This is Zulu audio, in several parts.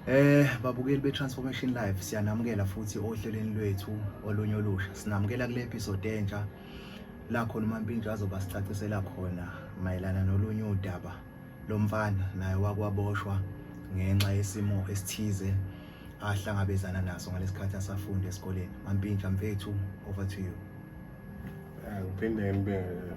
Eh babukeli beTransformation Live siyanamukela futhi ohlelweni lwethu olunye olusha. Sinamukela kule episode entsha la khona uMampintsha azoba sicacisela khona mayelana nolunye udaba lomfana naye wakwaboshwa ngenxa yesimo esithize ahlangabezana naso ngalesikhathi asafunda esikoleni. Mampintsha mfethu over to you. Ngiphinde ngibingelele.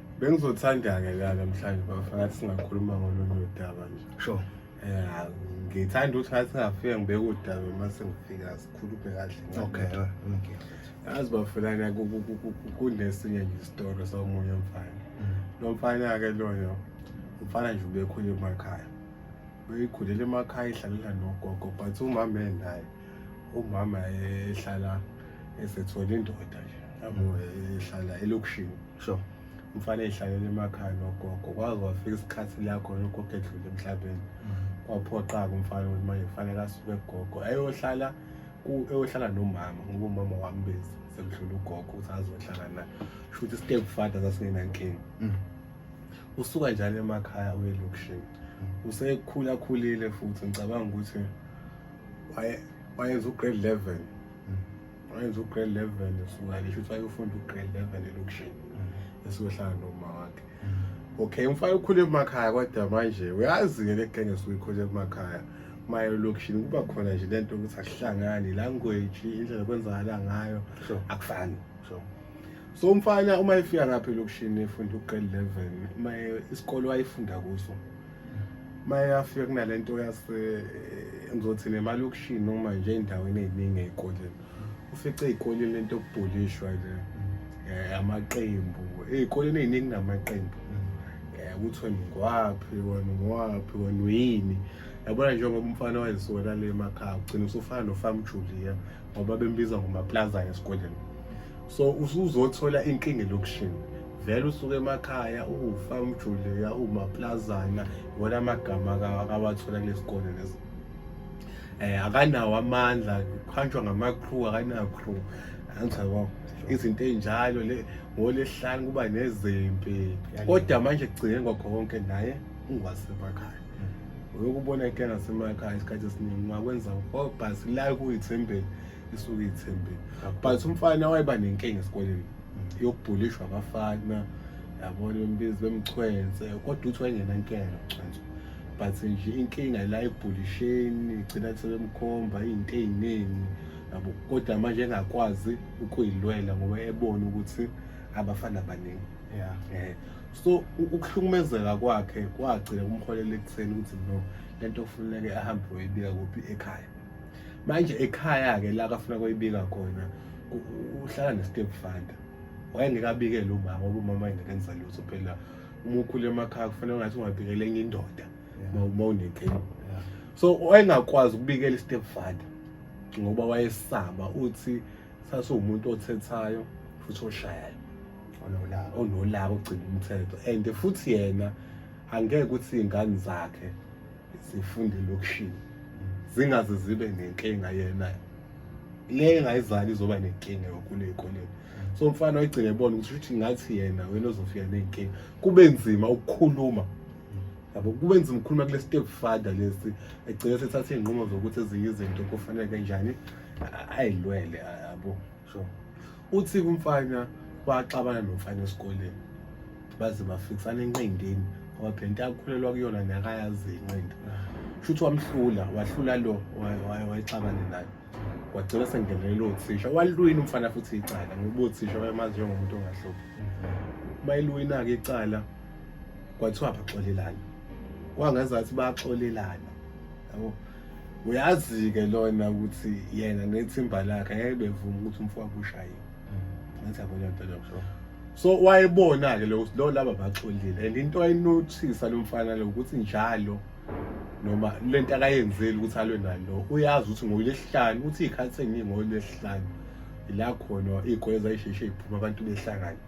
bengizothanda-ke la namhlanje bafa ngathi singakhuluma ngolunye udaba nje sure ya ngithanda ukuthi ngathi ngafika ngibeke udaba uma sengifika sikhulume kahle okay okay yazi bafelana kunesinye nje isitolo somunye umfana mm. lo mfana-ke loyo umfana nje ubekhule emakhaya beyikhulele emakhaya ihlalela nogogo but umama enaye umama ehlala esethole indoda nje yabo ehlala elokishini sho umfana eyihlalele emakhaya nogogo kwaze wafika isikhathi la khona ugogo edlule emhlabeni mm-hmm. kwaphoqa-ke umfana ukuthi manje kufanele asuke kugogo ayohlala eyohlala nomama ngoba umama wami bezi sekudlula ugogo ukuthi azohlala naye sho ukuthi step father sasingenankinga mm. usuka njalo emakhaya uye elokishini mm. usekhulakhulile futhi ngicabanga ukuthi wayenza ugrade eleven wayenza ugrade level esungane shuthi wayofunda ugrade level elokishini mm. esiyohlala noma wakhe mm. okay umfana ukhule emakhaya kodwa manje uyazi-ke le genge esuke ikhule emakhaya maye elokishini kuba khona nje le nto ukuthi akuhlangani language indlela kwenzakala ngayo akufani so so umfana uma efika ngapha elokishini efunda ugrade level uma isikole wayefunda kuso mayafika kunalento yase ngizothi nemali yokushini noma nje endaweni eziningi ezikoleni ufice ezikoleni lento yokubhulishwa nje eh, amaqembu ezikoleni eziningi namaqembu eh, ukuthi wena ngwaphi wena ngwaphi wena uyini yabona njengoba umfana wayesona le emakhaya ugcina usufana nofam Julia ngoba bembiza ngomaplazana esikoleni so usuzothola inkinga elokution vele usuke emakhaya ufa umjuliya umaplazana wona amagama akawathola kulesikole lesi eh akanawo amandla kuhanjwa ngama crew akanawo crew angichawa izinto ezinjalo le ngolesihlanu kuba nezimpi kodwa manje kugcine ngokho konke naye ungwasemakhaya uyokubona ike ngasemakhaya isikhathi esiningi ungakwenza oh, but la kuyithembeni isuke iyithembeni but umfana wayeba nenkinga esikoleni mm. yokubhulishwa abafana yabona bembizi bemchwense kodwa uthi wayengenankinga nokuchwensa but nje inkinga la ebhulisheni gcina sebemkhomba iy'nto ey'ningi yabo kodwa manje engakwazi ukuyilwela ngoba ebona ukuthi abafana baningi yeah eh so ukuhlukumezeka kwakhe kwagcina kumholela ekutheni ukuthi no lento kufuneke ahambe uyibika kuphi ekhaya manje ekhaya ke la kafuna kuyibika khona uhlala ne-step father wayengekabikele umama ngoba umama engekenza lutho phela uma ukhule emakhaya kufanele ungathi ungabikele enye indoda uma unetheni so wayengakwazi ukubikela i-step father ngoba wayesaba uthi sasiwumuntu othethayo futhi oshayayo onolaka onolaka ogcina umthetho and futhi yena angeke ukuthi iy'ngane zakhe zifunde elokishini zingaze zibe nenkinga yena le engayizali izoba nenkinga yokhulu ey'koleni so umfana wayigcina ebona ukuthi ukuthi ngathi yena wena ozofika ney'nkinga kube nzima ukukhuluma yabo kube nzima ukukhuluma kule step father lesi egcine sethatha iy'nqumo zokuthi ezinye izinto kufanele kanjani ayilwele yabo uthi kumfana waxabana nomfana esikoleni baze bafikisana enqindini ngoba phela into akhulelwa kuyona nakayazi inqindi shuthi wamhlula wahlula lo wayexabane naye wagcina sengenele lo thisha walwina umfana futhi icala ngoba uthisha wayemazi njengomuntu ongahluphi bayilwina-ke icala kwathiwa baxolelana kwangazathi baxolelana yabo uyazi-ke lona ukuthi yena nethimba lakhe ngeke bevuma ukuthi umfowabo ushayiwe mm. ngathi abona mpela kusho so wayebona-ke lo lo laba baxolile and into ayinothisa lo mfana lo ukuthi njalo noma le nto akayenzeli ukuthi alwe nalo uyazi ukuthi ngolwesihlanu uthi iy'khathi eningi ngolwesihlanu ila khona iy'gweza isheshe iphuma abantu behlangane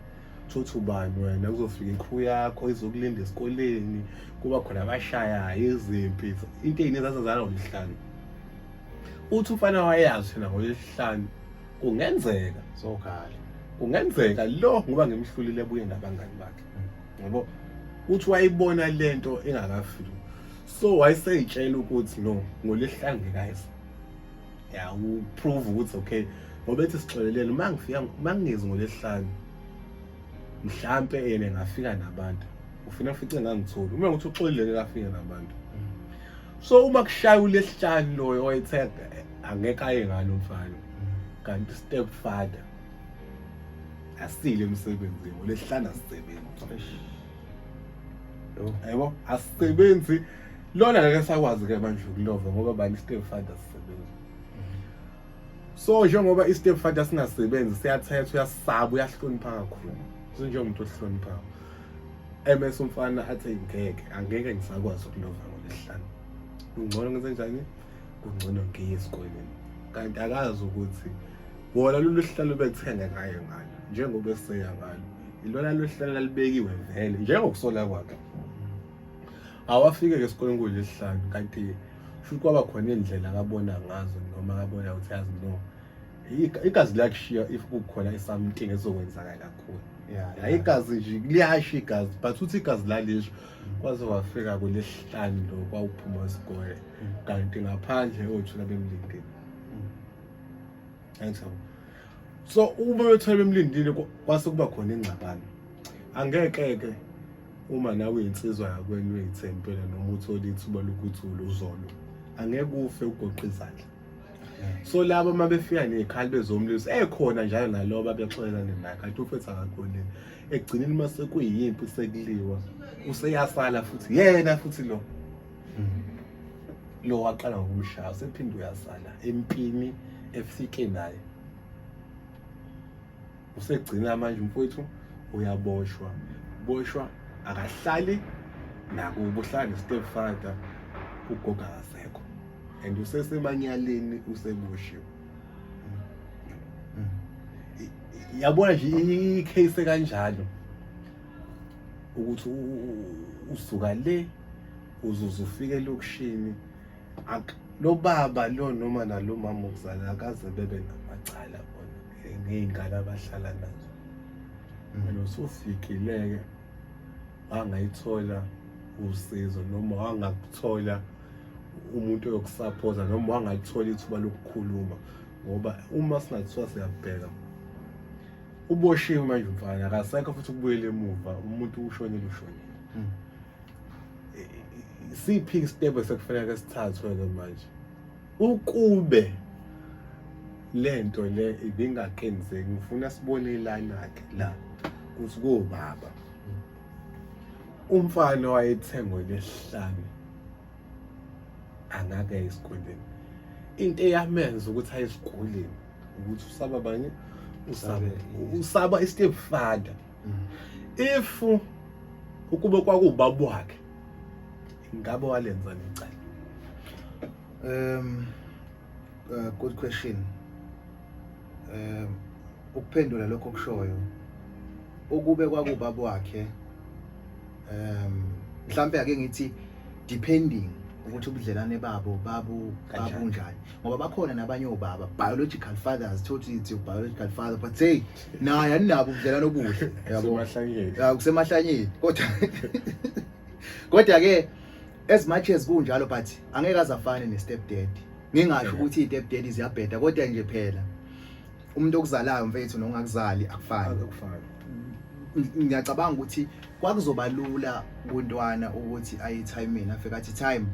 Thothi ubani wena kuzofika ikhiwu yakho izokulinda esikoleni kuba khona abashayayo izimpi into eyini ezazazala ngomhlanu uthi umfana wayazi thina ngolesihlanu kungenzeka sokhala kungenzeka lo ngoba ngimhlulile buye nabangani bakhe ngoba uthi wayibona lento engakafiki so wayeseyitshela ukuthi no ngolesihlanu ngekayisa ya uprove ukuthi okay ngoba ethi sixolelele uma ngifika uma ngingezi ngolesihlanu mhlampe yena ngafika nabantu ufuna futhi ngangitholi uma ukuthi uxolile ngafika nabantu so uma kushaya ulesihlanu loyo oyethe angeke aye ngalo mfana kanti step father asile emsebenzini ngolesihlanu asisebenzi yebo asisebenzi lona ngeke sakwazi ke manje ukulova ngoba bani i-step father sisebenzi so njengoba i-step father singasebenzi siyathethwa uyasaba uyahlonipha kakhulu sinjengomuntu ohloniphayo ms umfana athi ngeke angeke ngisakwazi ukulova ngolesihlanu kungcono ngenze njani kungcono ngiye esikoleni kanti akazi ukuthi wona lolu hlalo bethenga ngayo ngalo njengoba eseya ngalo ilona lolu hlalo lalibekiwe vele njengokusola kwakhe awafike-ke esikoleni kuyilesihlanu kanti futhi kwaba khona iy'ndlela akabona ngazo noma akabona ukuthi yazi no igazi liyakushiya if kukhona i-something ezokwenzakala kakhulu ya igazi nje liyasho igazi but uthi igazi lalisho kwaze wafika kulesihlanu lo kwawuphuma isikole kanti ngaphandle othula bemlindile angisabo so uma bethula bemlindile kwase kuba khona ingxabano angeke-ke uma nawe uyinsizwa yakwenu uyithempela noma uthole ithuba lokuthi uluzolo angeke ufe ugoqa izandla so labo uma befika nezikhali bezomlisa ekhona njalo naloba bexolelane naye kanti ufethu akakhonile ekugcineni uma sekuyimpi sekuliwa useyasala futhi yena futhi lo lo waqala ngokumshaya usephinde uyasala empini efike naye usegcina manje mfowethu uyaboshwa boshwa akahlali nakubo uhlala ne-step father ugogo akasekho and usesemanyaleni usebushiwe yabona nje i-case kanjalo ukuthi usuka le uzuze ufike elokishini lo baba lo noma nalo mama okuzala akaze bebe namacala bona ngey'ngane abahlala nazo mina usufikile-ke wangayithola usizo noma wangakuthola umuntu oyokusaphoza noma wangalithola ithuba lokukhuluma ngoba uma singathiwa siyabheka uboshiwe manje umfana akasekho futhi ukubuyela emuva umuntu ushonile ushonile hmm. siphi isitebhu esekufanele sithathwe-ke manje ukube le nto le ibingaqinizeki ngifuna sibone ilana-ke la kuthi kobaba umfana wayethengwe lesihlanu angake esikoleni into eyamenza ukuthi aye esikoleni ukuthi usaba banye usaba usaba i-step father if ukube kwakuwubaba wakhe ngabe walenza licala um uh, good question um ukuphendula lokho kushoyo ukube kwakubaba wakhe um mhlambe ake ngithi depending ukuthi ubudlelane babo babu babunjani ngoba bakhona nabanye obaba biological fathers thothi it's your biological father but say naye aninabo ubudlelwano obuhle yabo Semahlangeni. Ya, kusemahlanyeni kodwa kodwa ke as much as kunjalo but angeke azafane ne step dad ngingasho Yeah. ukuthi i step dad ziyabheda kodwa nje phela umuntu okuzalayo mfethu nongakuzali akufani Akufani. Ng- ngiyacabanga ukuthi kwakuzoba lula kuntwana ukuthi ayi time mina afika athi time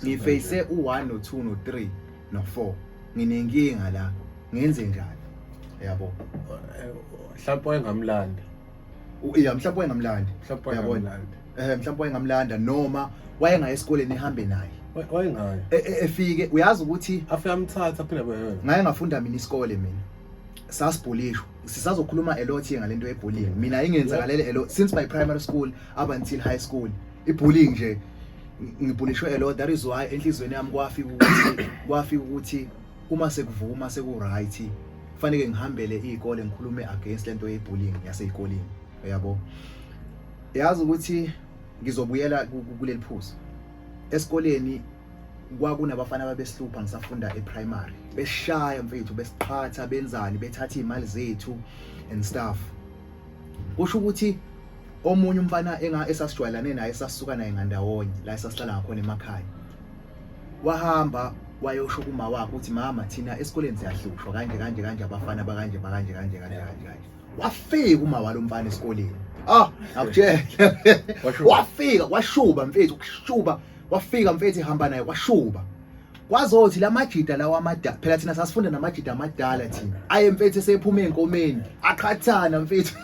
ngiface u1 no2 no3 no-4 nginenkinga la ngenze njani yabo mhlawumbe wayengamlanda ya mhlawumbe wayengamlanda mhlawumbe wayengamlanda eh mhlawumbe wayengamlanda noma wayengaye esikoleni ehambe naye wayengaye e, e, efike uyazi ukuthi afike amthatha phela beyona ngaye ngafunda mina isikole mina sasibhulishwa sisazokhuluma a lot ngalento yebullying mina ingenzakalele a lot since my primary school up until high school ibullying nje ngibhulishwe a lot that is why enhlizweni yami kwafika ukuthi kwafika ukuthi uma sekuvuma seku right kufanele ngihambele izikole ngikhulume against lento ye bullying yasezikoleni uyabo yazi ukuthi ngizobuyela kuleli phuzu esikoleni kwakunabafana ababesihlupha ngisafunda eprimary beshaya mfethu besiqhatha benzani bethatha izimali zethu and stuff kusho ukuthi omunye umfana esasijwayelane naye esasuka naye ngandawonye la esasihlala ngakhona emakhaya wahamba wayosho kuma wakhe ukuthi mama thina esikoleni siyahlushwa kanje kanje kanje abafana bakanje bakanje kanje kanje kanje kanje wafika uma walomfana esikoleni ah akutshela wafika washuba mfethu kushuba wafika mfethu ihamba naye washuba kwazothi la majida lawa amadala phela thina sasifunda namajida amadala thina aye mfethu esephuma ey'nkomeni aqhathana mfethu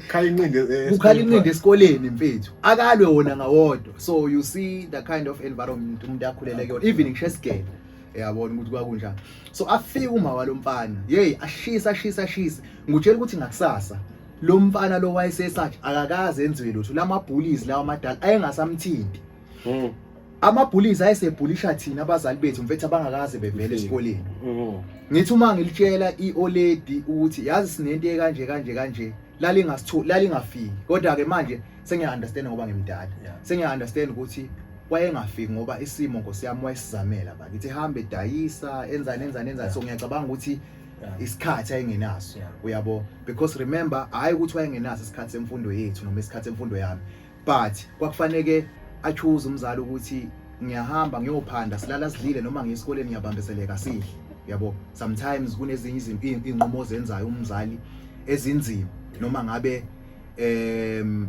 khala inqindi eh, kukhala inqindi esikoleni mfethu akalwe wona ngawodwa so you see the kind of environment umuntu akhulele kuyona even ngisho esigele yabona ukuthi kwakunjani so afika uma walomfana hey ashisa ashisa ashisa ngutshela ukuthi ngakusasa lo mfana lo wayesesathi akakaze enziwe lutho lamabhullies lawa amadala ayengasamthinti mm. amabhulizi ayesebhulisha thina abazali bethu mfethu abangakaze bevele esikoleni mm. ngithi uma ngilitshela ioledi ukuthi yazi sinento ekanje kanje kanje lalingasithu lalingafiki kodwa ke manje sengiya understand ngoba ngimdala sengiya understand ukuthi wayengafiki ngoba isimo nkosi yami wayesizamela ba ngithi hambe dayisa enzani enzani enzani so ngiyacabanga ukuthi isikhathi ayengenaso uyabo because remember hayi ukuthi wayengenaso isikhathi semfundo yethu noma isikhathi semfundo yami but kwakufaneke achuze umzali ukuthi ngiyahamba ngiyophanda silala sidlile noma ngiyesikoleni ngiyabambezeleka sidle yabo sometimes kunezinye izinto inqumo zenzayo umzali ezinzima noma ngabe em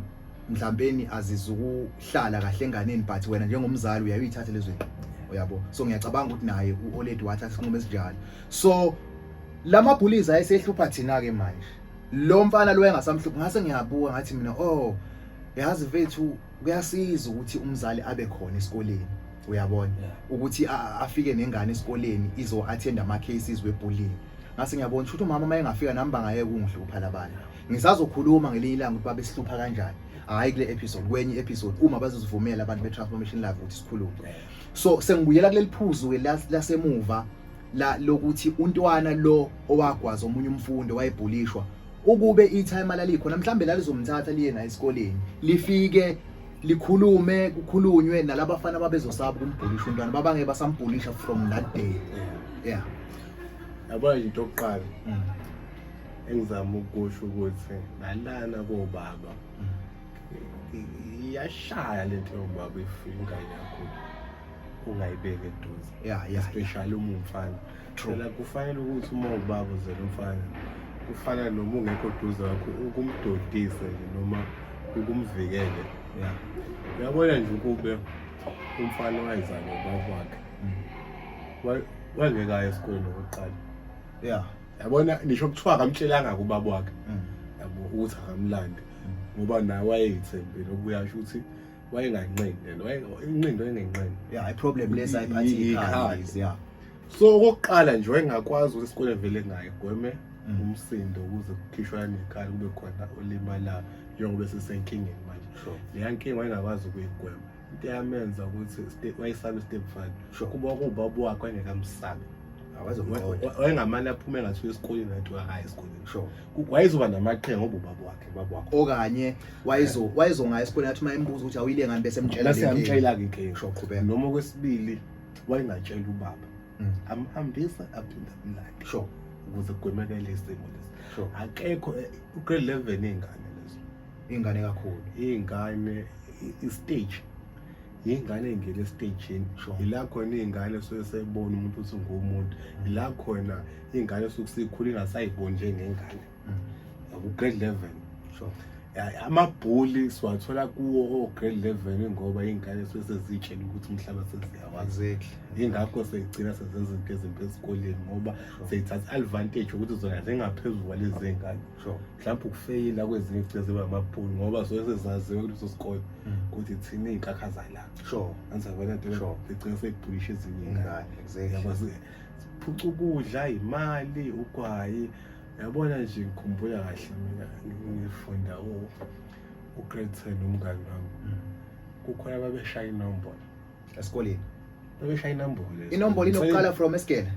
mhlawumpeni azizukuhlala kahle enganeni but wena njengomzali uyayithatha lezo zinto uyabo so ngiyacabanga ukuthi naye uoledi wathatha isinqumo esinjalo so lama bullies ayesehlupha thina ke manje lo mfana lo engasamhluphi ngase ngiyabuka ngathi mina oh yazi vethu kuyasiza ukuthi umzali abe khona esikoleni uyabona ukuthi afike nengane esikoleni izo attend ama cases webullying ngase ngiyabona ukuthi umama uma engafika nami bangayeke ungihlupha labana ngisazokhuluma ngelinye ilanga ukuthi babe sihlupha kanjani hayi kule episode kwenye episode uma bazozivumela abantu be transformation live ukuthi sikhulume so sengibuyela kuleli phuzu ke lasemuva la lokuthi untwana lo owagwaza omunye umfundi wayebhulishwa ukube itime lalikhona mhlambe lalizomthatha liye naye esikoleni lifike likhulume kukhulunywe nalaba bafana babezosaba kumbhulisha untwana babange basambhulisha from that day yeah yabona into yokuqala mm. engizama ukusho ukuthi nalana kobaba mm. iyashaya lento yobaba ifinga yakho ungayibeki eduze yeah, yeah, especially yeah. umumfana phela kufanele ukuthi uma ubaba uzela umfana kufana noma ungekho duze wakho ukumdodise noma ukumvikele ya uyabona nje ukube umfana wayezana ubaba wakhe mm. wangekayo esikoleni okokuqala ya yabona nisho kuthiwa akamtshelanga kubaba wakhe mm. yabo ukuthi akamlandi mm. ngoba naye wayeyithembile okuyasho ukuthi wayenganqindele inqindo engenqindi yeah i problem lesa iphathi ikhali yeah so okokuqala nje wayengakwazi ukuthi isikole vele ngaye gweme mm. umsindo ukuze kukhishwa nekhali kube khona olimala njengoba sisenkingeni manje leya nkinga wayengakwazi ukuyigwema into yamenza ukuthi wayesabe step five kuba kubaba wakhe wayengekamsabi wayengamane aphume ngathi esikoleni nathi wahaya esikoleni wayezoba namaqhinga ngoba ubaba wakhe baba wakhe okanye wayezo wayezongaya esikoleni athi uma embuza ukuthi awuyile ngani bese emtshela bese amtshela ke ke sho qhubeka noma kwesibili wayengatshela ubaba mm. amhambisa aphinda amlande sho ukuze kugwemekele isimo lesi sho akekho eh, ugrade 11 ingane lezo ingane kakhulu ingane istage ingane engena estejini yila khona ingane suke sebona umuntu ukuthi ungumuntu yila khona ingane suke sikhula ingasayiboni njengengane grade 11 sure amabhuli siwathola kuwo o-grade level ngoba iy'ngane suke seziyitshela ukuthi umhlaba seziyawazi yingakho seyigcina sezenza izinto ezimbi esikoleni ngoba seyithatha i-advantage ukuthi zona zingaphezulu kwalezi zingane mhlawumbe ukufeyila kwezinye igcina ziba amabhuli ngoba suke sezaziwe kuleso sikole mm. ukuthi thina iy'nkakha zalana anzakona nto igcina seyibhulisha ezinye iy'ngane siphuca ukudla imali ugwayi yabona nje ngikhumbula kahle mina ngifunda ugrade ten umngani wami mm. kukhona babeshaya inombolo esikoleni babeshaya inombolo inombolo inokuqala from esigele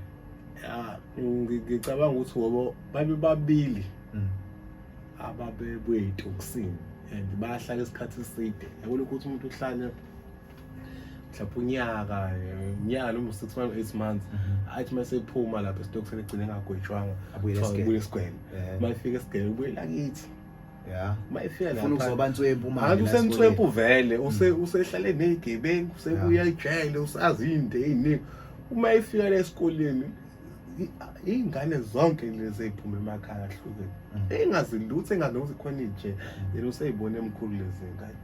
ya ngicabanga ukuthi ngoba babe babili mm. ababebuye etoksini and bayahlala isikhathi eside yabona ukuthi umuntu uhlale mhlawumbe unyaka unyaka noma six months eight months mhm. athi uma sephuma lapho esitokufeni egcine engagwetshwanga abuye esigwele uma efika esigwele ubuye lakithi ya uma efika lapha uzoba nswempu manje hayi usemswempu vele mm. usehlale nezigebengu usebuya ejele usazi into eziningi uma efika la esikoleni iy'ngane zonke lezi ey'phuma emakhaya ahlukene mm. ey'ngazilutho engazi nokuthi khona inje mm. yena usey'bona emkhulu lezi ngane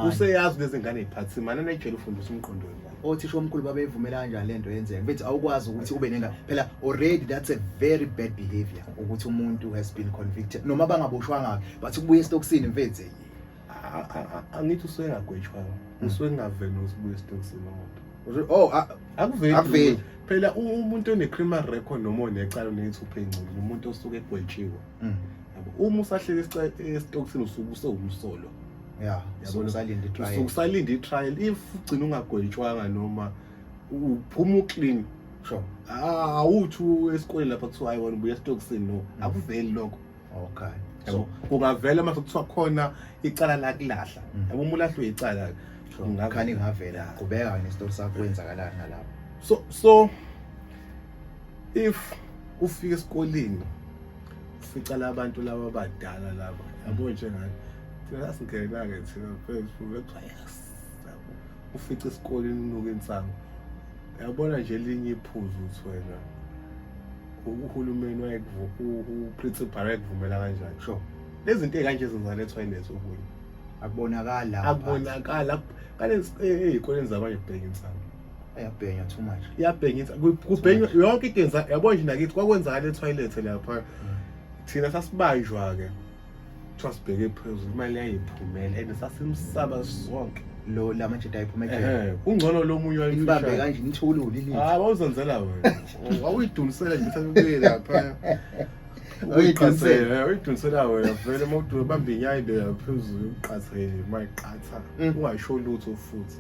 useyazi lezi ngane y'phathi simane nayijele ufundisa umqondo wengane othisha omkhulu babeyivumela kanjani le nto yenzeka bethi awukwazi ukuthi ube nenga phela already that's a very bad behavior ukuthi umuntu has been convicted noma bangaboshwanga bathi kubuye esitokisini mfethu angithi usuke engagwetshwanga hmm. usuke engaveli nokubuya esitokisini umuntu oh akuveli phela umuntu one-criminal record noma onecala oneyithuphe ingculu umuntu osuke egwetshiwe mm. uma usahleka esitokisini usuke usewumsolo ya yabona usalinda itrial usuke usalinda itrial if ugcina ungagwetshwanga noma uphuma uclean sure awuthi esikoleni lapha kuthiwa hayi wena ubuya esitokisini no mm. akuveli lokho okay so kungavela uma kuthiwa khona icala lakulahla mm. yabo uma ulahlwe icala ngakhani ngavela qhubeka wena isitori sakho kwenzakalani ngalapho so so if ufika esikoleni ufica labantu laba abadala laba yabo njengani thina sasingena-ke thina phezuluebayas ufica esikoleni unuka insango yabona nje elinye iphuzu ukuthi wena uhulumeni uprincipal wayekuvumela kanjani sho lezinto ey'kanje zingalethwa inethi okunye akubonakala akubonakala kanti ey'koleni zabanye kubheka insango ayabhenya too much iyabhengisa kubhenywa yonke into yenza yabo nje nakithi kwakwenzakala etoilet lapha mm. thina sasibanjwa ke kuthiwa sibheke phezulu imali yayiphumela and sasimsaba sonke lo la manje dayiphuma ekhaya kungcono lo munye wayibambe kanje nithule ulilile ah wawuzenzela wena wawuyidulisela nje sakubuyela lapha uyiqathele uyidunisela wena vele uma ubamba inyayi beka phezulu uqathele uma iqatha mm. ungasho lutho futhi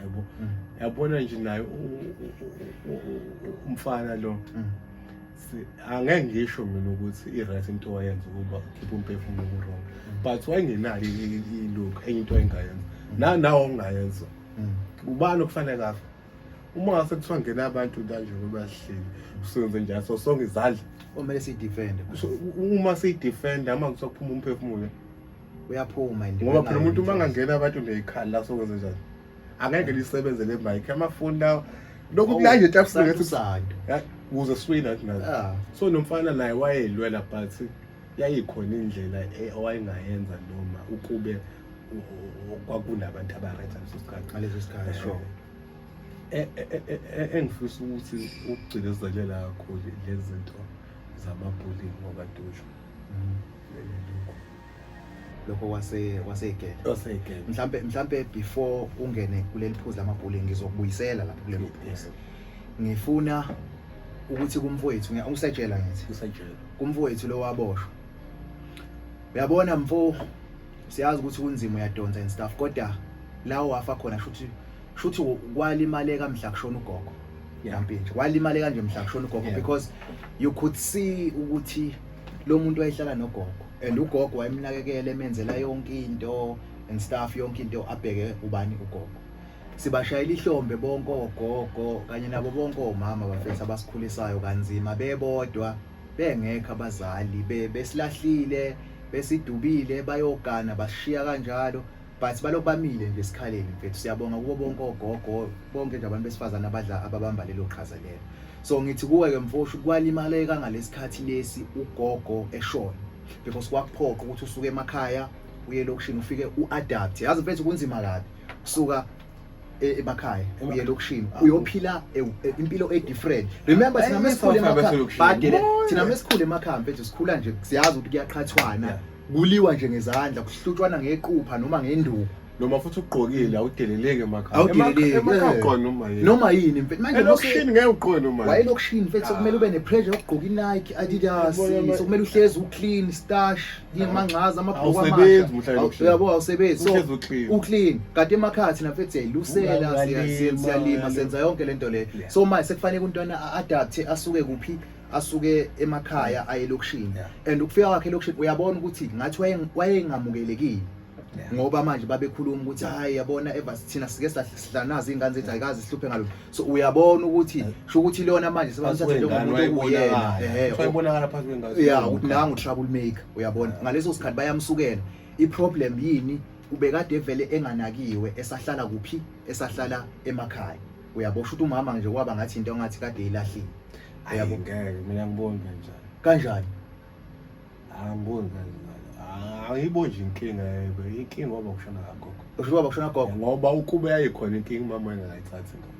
yabo mm. yabona nje naye umfana lo mm. angeke ngisho mina ukuthi i-right into wayenza ukuba ukhiphe umphefumulo ku-wrong mm. but wayengenayo ilokhu enye into ayengayenza nanawo ongayenza ubani okufanele kafa uma ngase kuthiwa ngena abantu kanje bebahleli usenze njalo so sonke izandla kumele siyidefende uma siyidefenda uma kuthiwa kuphuma umphefumulo uyaphuma and ngoba phela umuntu uma angangena abantu neyikhali la sokwenze njani angeke lisebenze le mic amafoni lawo lokhu oh, kulanje tafsikethi was a swing at night yeah. so nomfana naye wayelwela but yayikhona indlela e, owayengayenza noma ukube kwakunabantu abaretha leso sikhathi ngaleso sikhathi eh, sure eh, eh, engifisa ukuthi ukugcinezelela kakhulu lezinto zamabullying ngokaDushu lokho wase wasegele wasegele mhlambe mhlambe before ungene kuleli phuzu lamabhuleni ngizokubuyisela lapho kuleli phuzu ngifuna ukuthi kumfowethu ngiyakusatshela ngithi kusatshela kumfowethu lo waboshwa uyabona mfo siyazi ukuthi kunzima uyadonsa and stuff kodwa lawo wafa khona shuthi shuthi kwalimaleka mhla kushona ugogo yampintsha walimaleka nje mhla kushona ugogo because you could see ukuthi lo muntu wayehlala nogogo and ugogo wayemnakekela emenzela yonke into and stuff yonke into abheke ubani ugogo sibashayela ihlombe bonke ogogo kanye nabo bonke omama bafethu abasikhulisayo kanzima bebodwa bengekho abazali besilahlile besidubile bayogana bashiya kanjalo but balokhu bamile nje esikhaleni mfethu siyabonga kubo bonke ogogo bonke nje abantu besifazane abadla ababamba lelo qhaza lelo so ngithi kuwe ke mfoshu kwalimaleka ngalesikhathi lesi ugogo eshona because kwakuphoqa ukuthi usuke emakhaya uye elokishini ufike uadapt yazi mfethu kunzima kabi kusuka e, emakhaya uye elokishini ah. uyophila e, e, impilo edifferent remember thina mesikhule emakhaya badele thina mesikhule emakhaya mfethu sikhula nje siyazi ukuthi kuyaqhathwana kuliwa nje ngezandla kuhlutshwana ngequpha noma ngenduku noma futhi ugqokile awudeleleki emakhaya awudeleleki emakhaya ugqoka noma yini noma yini mfethu manje lokishini ngeke ugqoke noma yini wayelokishini mfethu sokumele ube nepressure yokugqoka iNike Adidas sokumele uhlezi uclean stash yimangcaza amabhuku amahle yabo awusebenzi so uclean kade emakhaya thina mfethu siyayilusela siyalima senza yonke lento le so manje sekufanele untwana a adapte asuke kuphi asuke emakhaya aye elokishini and ukufika kwakhe elokishini uyabona ukuthi ngathi wayengamukelekile ngoba manje babekhuluma ukuthi hayi yabona ever sithina sike sahlanaza izingane zethu ayikazi sihluphe ngalo so uyabona ukuthi sho ukuthi lona manje sebamthatha njengomuntu okuyena eh uyabonakala phansi kwengazi yeah ukuthi nangu trouble maker uyabona ngaleso sikhathi bayamsukela i problem yini ubekade vele enganakiwe esahlala kuphi esahlala emakhaya uyabo shuthi umama nje kwaba ngathi into ngathi kade ilahlile uyabo ngeke mina ngiboni kanjani kanjani angiboni kanjani ayibo nje inkinga yebo inkinga waba kushona kagogo usho waba kushona gogo ngoba ukube yayikhona inkinga umama engayithathi ngoba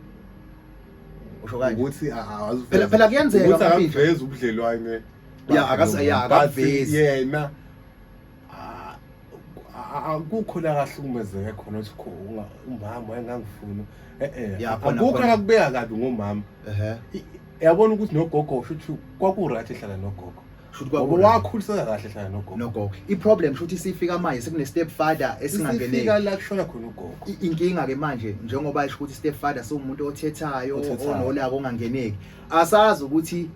usho kanje ukuthi phela phela kuyenzeka ukuthi akaveza ubudlelwane ya akase ya akavezi yena akukho la kahlukumezeke khona ukuthi umama wayengangifuni e-e akukho akakubeka kabi ngomama yabona ukuthi nogogo shuthi kwaku-right ehlala nogogo wakhuliseka kahle hlala nogogo iproblem sho ukuthi sifika manje sekune-step father esingangenefika la kushona khona ugogo inkinga-ke manje njengoba isho ukuthi i-step father siwumuntu othethayo onolaka ongangeneki asazi ukuthi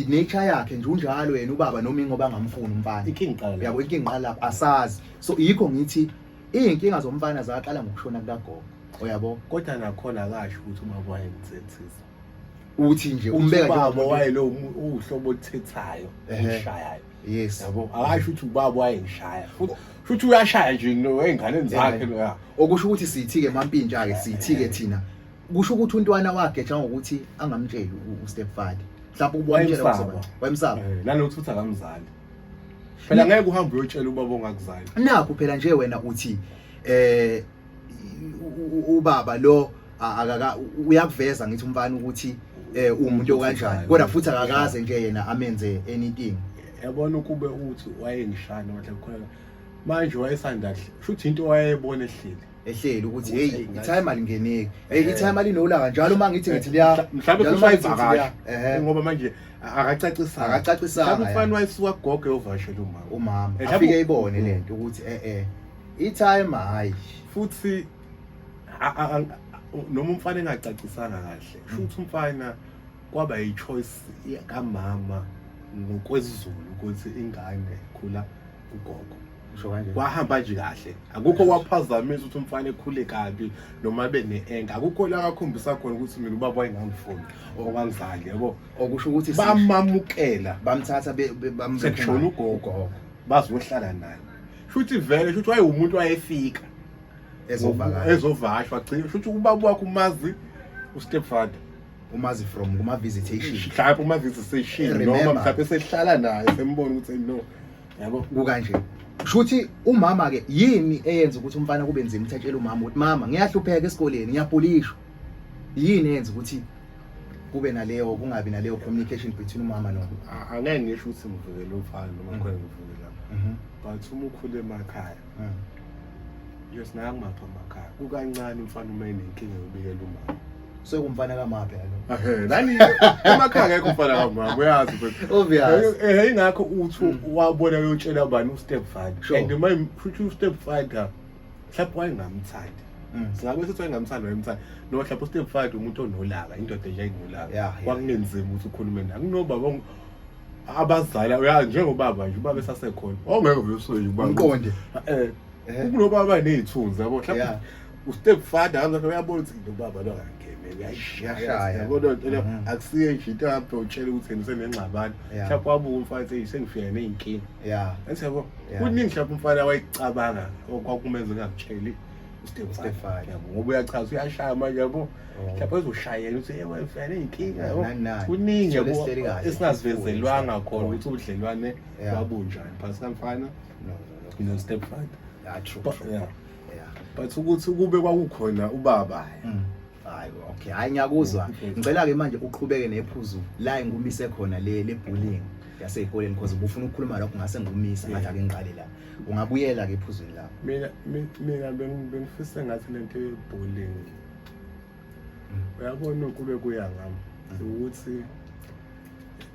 nature yakhe nje unjalo yena ubaba noma ingoba angamfuni umfana inkingi iqala yabo inkingi iqala lapho asazi so yikho ngithi izinkinga zomfana zaqala ngokushona kukagogo uyabo kodwa nakhona akasho ukuthi uma kwayenzethisa uthi nje umbeka ubaba wayelo uhlobo othethayo ushayayo yes yabo akasho ukuthi ubaba wayengishaya futhi futhi uyashaya nje no enganeni zakhe okusho ukuthi sithi ke mampintsha ke sithi ke thina kusho ukuthi untwana wakhe cha ngokuthi angamtsheli ustepfather mhlawumbe ubona umtshela wayemsaba wayemsaba eh, nalokuthi futhi akamzali phela ngeke uhambe uyotshela ubaba ongakuzali nakho phela nje wena uthi eh ubaba lo akaka uyakuveza ngithi umfana ukuthi eh umuntu kanjani kodwa futhi akakaze nje yena amenze anything yabona ukube uthi wayengishana wathi khona manje wayesanda kushuthi into wayebona ehlile ehleli ukuthi hey itime alingeneki hey itime alinolanga njalo uma ngithi ngithi liya mhlawumbe kusayivakasha eh ngoba manje akacacisa akacacisa mhlawumbe ufana wayisuka gogo yovashela umama umama eh, afike ibone lento ukuthi eh eh itime hayi futhi noma umfana engacacisanga kahle sho hmm. ukuthi umfana kwaba yi choice kamama ngokwezulu ukuthi ingane khula ugogo kwahamba nje kahle akukho kwaphazamisa ukuthi umfana ekhule kabi noma abe ne-enka akukho la kakhombisa khona ukuthi mina ubaba wayengangifuni okwangizali yabo okusho ukuthi bamamukela bamthatha sekushona ugogo bazohlala naye shuthi vele shuthi wayewumuntu wayefika ezovakashwa gcina shuthi ubaba wakho umazi ustepfather umazi from kuma-visitation mhlawumpe uma-visitation noma mhlawumpe sehlala naye sembona ukuthi no yabo kukanje shuthi umama ke yini eyenza ukuthi umfana kube nzima ukuthi atshele umama ukuthi mama ngiyahlupheka esikoleni ngiyabhulishwa yini eyenza ukuthi kube naleyo kungabi naleyo communication between umama no angeke ngisho ukuthi ngivikele umfana noma mm. khona ngivikela mhm. but uma ukhule emakhaya mm. yes naye angimapha amakhaya kukancane umfana uma enenkinga yobikela umama sekumfana kamaphi alo ehe lani emakhaya ngeke umfana kamama uyazi mfethu obvious ehe ingakho uthi mm. wabona uyotshela bani ustep father and my futhi ustep father mhlawumbe wayengamthandi mm. singabe sithi wayengamthandi wayemthanda no mhlawumbe ustep father umuntu onolaka indoda nje ayinolaka kwakunenzima ukuthi ukhulume naye kunobaba abazala uya njengobaba nje ubaba esasekhona ongeke vele usoyike ubaba umqonde eh, eh. kunobaba nezithunzi yabo mhlawumbe ustep father kangathi uyabona ukuthi into baba lo angangene uyayishaya kodwa into le mhm. akusiye nje into yakho utshela ukuthi yena usenengxabano mhlawumbe wabuka umfana ethi sengifika ney'nkinga ya enthi yabo kuningi mhlawumbe umfana wayicabanga okwakumenza engamtsheli Stefani yabo ngoba uyachaza uyashaya manje yabo oh. mhlawumbe ezoshayela ukuthi ewe mfana inkinga yabo kuningi yabo esingazivezelwanga khona ukuthi ubudlelwane babunjani phakathi kamfana no stepfather yeah true, true. Yeah. yeah but ukuthi kube kwakukhona ubaba mm. hayi okay hayi ngiyakuzwa ngicela ke manje uqhubeke nephuzu la engumise khona le le bullying yasezikoleni because ubufuna ukukhuluma lokho ngase ngumisa ngathi ake ngiqale la ungabuyela ke ephuzweni lakho mina mina bengifisa ngathi lento yebullying uyabona ukube kuya ngami ukuthi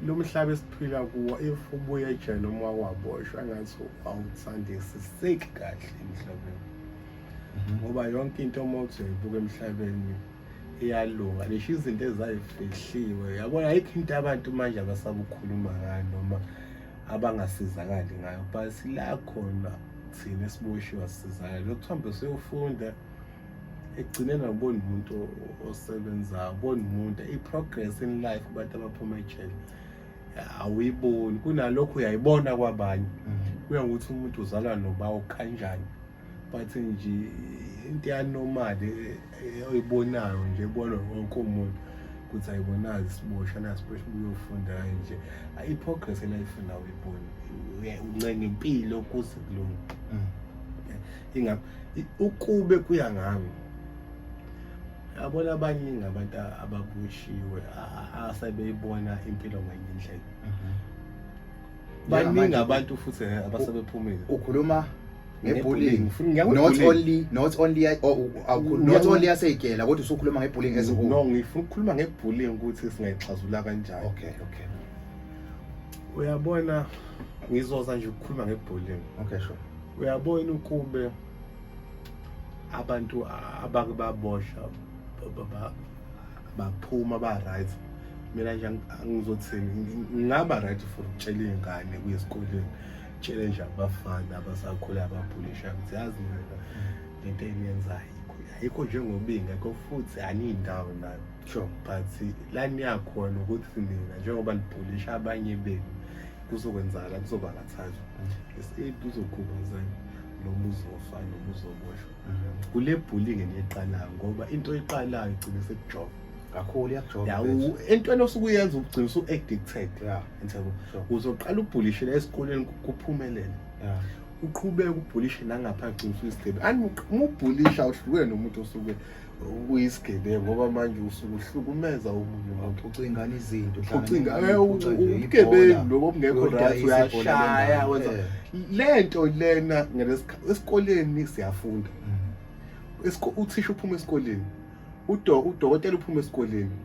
lo mhlaba esiphila kuwo if ubuye ejele noma wakwaboshwa ngathi awuthandisiseki kahle emhlabeni mhm. ngoba yonke into uma uthi uyibuka emhlabeni iyalunga nisho izinto ezayifihliwe yabona ayikho into abantu manje abasabukhuluma ngayo noma abangasizakali ngayo but sila khona thina esiboshiwe asizakali lokuthihambe siyofunda ekugcineni awuboni umuntu osebenzayo uboni umuntu i-progress in life abantu abaphuma ejele awuyiboni kunalokho uyayibona kwabanye mm-hmm. kuya ngokuthi umuntu uzalwa nobawo kanjani but nje into yanormal eh, oyibonayo nje ebona wonke umuntu ukuthi ayibonazi isibosha nasibosha ubuyofunda nje i-progress elayifuna uyiboni uncenga impilo kuze kulunga mm. ingam ukube kuya ngami yabona abaningi abantu ababushiwe asebeyibona impilo ngenye indlela mhm. baningi abantu futhi abasebephumile ukhuluma ngebullying not only not only oh, oh, not only yaseygela kodwa usukhuluma ngebullying as whole no ngifuna ukukhuluma ngebullying ukuthi singayixazula kanjani okay okay uyabona ngizoza nje ukukhuluma ngebullying okay sure uyabona ukube abantu abake babosha baphuma ba-right mina nje angizothini ngingaba right for ukutshela iy'ngane kuye esikoleni tshele nje abafana abasakhula ababhulisha ukuthi yazi mina lento eniyenzayo ayikho njengobinga ko futhi aniyindawo nayo sure but la niyakhona ukuthi nina njengoba nibhulisha abanye benu kuzokwenzakala kuzobangathazwa escape kuzokhubazana noma uzofa noma uzoboshwa kule bhulinge neqalayo ngoba into eqalayo igcine sekujova kakhulu iyakujoba entweni osuke uyenza ugcina usu-addicted yabo uzoqala ubhulishela esikoleni kuphumelele uqhubeke ubhulishe nangapha gcina usuyisigebi and uma ubhulisha uhlukene nomuntu osuke uyisigebengu ngoba manje usuke uhlukumeza omunye umuntu ucingana izinto ucinga eh, ubugebengu lobo obungekho right uyashaya wenza eh. le nto lena esikoleni siyafunda mm. uthisha uphuma esikoleni udokotela uphuma esikoleni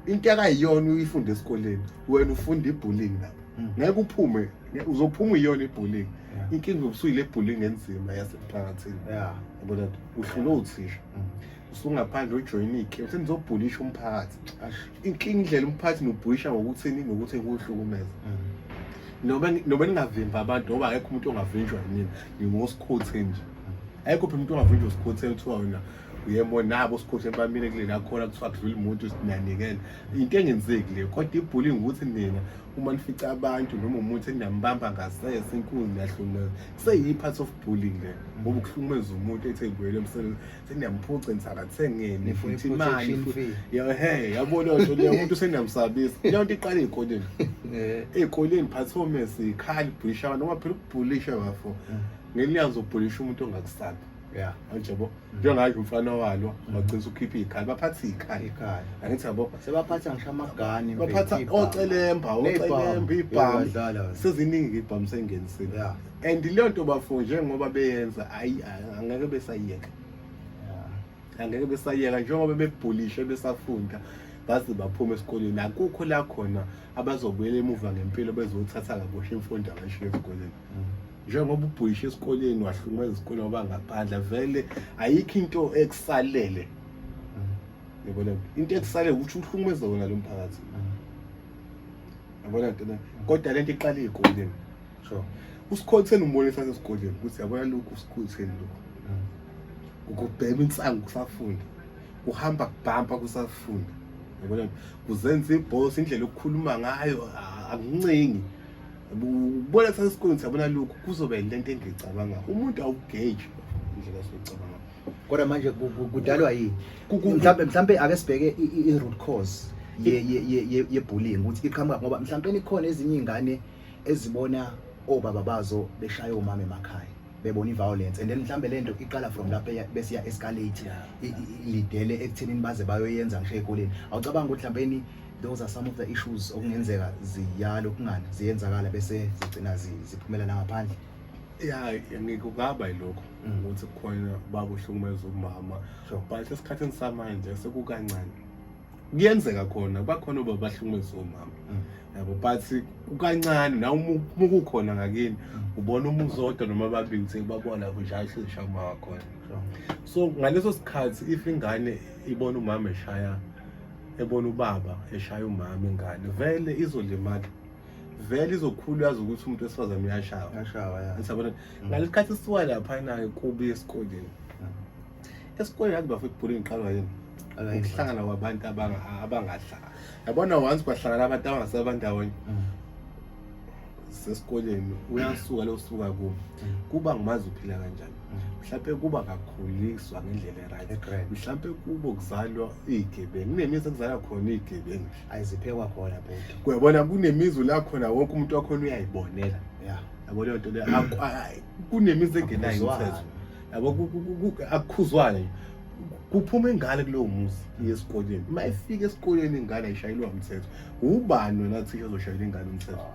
mm. into akayiyona uyifunde esikoleni wena ufunda ibullying lapho mm. ngeke uphume uzophuma iyona ibullying inkinga ubusuyile ibullying enzima yasemphakathini yabona uhlulwe uthisha usungaphandle ujoyine ike uthi nizobhulisha umphakathi inkinga indlela umphakathi nobhulisha ngokuthini ngokuthi kuhlukumeza noba noba ningavimbi abantu ngoba akekho umuntu ongavinjwa yini ngingosikhothi nje ayikho phela umuntu ongavinjwa usikhothi kuthiwa wena uyemo nabo usikhothi bamile kuleli akhona kuthiwa kudlula umuntu sinanikele into engenzeki le kodwa ibhuli ngukuthi nina uma nifica abantu noma umuntu enambamba ngasese inkunzi niyahlukumeza seyi-part of bullying le ngoba ukuhlukumeza umuntu ethe ngibuyele emsebenzi seniyamuphuca nisakathengeni futhi imali he yabona nto leyo umuntu seniyamsabisa leyo nto iqala ey'koleni ey'koleni performance ikhali bhulisha abantu ngoba phela ukubhulisha bafo ngelinye azobhulisha umuntu ongakusabi ya manje yabo mm. njengayo umfana walo mm. wagcina ukhipha ikhaya baphatha ikhaya ikhaya angithi yabo sebaphatha ngisho amagani baphatha ocelemba ocelemba ibhamu seziningi ibhamu sengenisile and leyo nto bafo njengoba beyenza ayi angeke besayiyeka angeke besayiyeka njengoba bebhulishe besafunda baze baphume esikoleni akukho la khona abazobuyela emuva ngempilo bezothatha kabusha imfundo abashiye esikoleni mm. njengoba ubhuyishe esikoleni wahlungwa izikoleni ngoba ngaphandla vele ayikho into ekusalele yabona into ekusalele ukuthi uhlukumeze wona lo mphakathi yabona ntina kodwa le nto iqale ey'koleni so usikhotheni umbonisa sesikoleni ukuthi yabona lokhu usikhotheni lokhu ukubhema insangu kusafunda uhamba kubhampa kusafunda yabona kuzenza ibhosi indlela okukhuluma ngayo akuncingi ubona kuthatha isikoleni siyabona lokhu kuzoba yinto ento engicabanga umuntu awugeji indlela esicabanga kodwa manje kudalwa yini mhlambe mhlambe ake sibheke i root cause ye ye ye ye bullying ukuthi iqhamuka ngoba mhlambe ikhona ezinye izingane ezibona obaba bazo beshaya omama emakhaya bebona i-violence and then mhlambe le nto iqala from lapho besiya escalate lidele ekuthenini baze bayoyenza ngisho ey'koleni awucabanga ukuthi mhlawumbeni those are some of the issues okungenzeka ziyala ukungani ziyenzakala bese zigcina ziphumela nangaphandle ya ngikungaba yilokho mm. ukuthi kukhona bakuhlukumeza umama but esikhathini samanje sekukancane kuyenzeka khona bakhona oba bahlukumezisa omama mm. yabo but kukancane na uma ukukhona ngakini mm. ubona uma uzodwa noma babili sekubabona kunjalo sezishaya uma wakhona so ngaleso sikhathi if ingane ibona umama eshaya ebona ubaba eshaya umama ingane vele izolimala vele izokhulu yazi ukuthi umuntu wesifazane uyashawa uyashawa ya ngisabona mm. ngalesikhathi siwa lapha naye kubi esikoleni esikoleni yazi bafo ibhuli ngiqalwa yini ukuhlangana kwabantu abangahlanga yabona once kwahlangana abantu abangasebenzi bandawonye mm. sesikoleni uyasuka losuka kubo mm. kuba ngumazi uphila kanjani mm. mhlawumpe kuba kakhuliswa ngendlela eright mhlawumpe kubo kuzalwa iy'gebengu kunemizi ekuzalwa khona iy'gebengu ayiziphekwa khona bhuti kuyabona kunemizi la khona wonke umuntu wakhona uyayibonela yabo leyo nto leyo kunemizi engenayo imithetho yabo akukhuzwane nje kuphuma ingane kulowo muzi yesikoleni uma ifika esikoleni ingane ayishayelwa umthetho ubani wena thisha ozoshayela ingane umthetho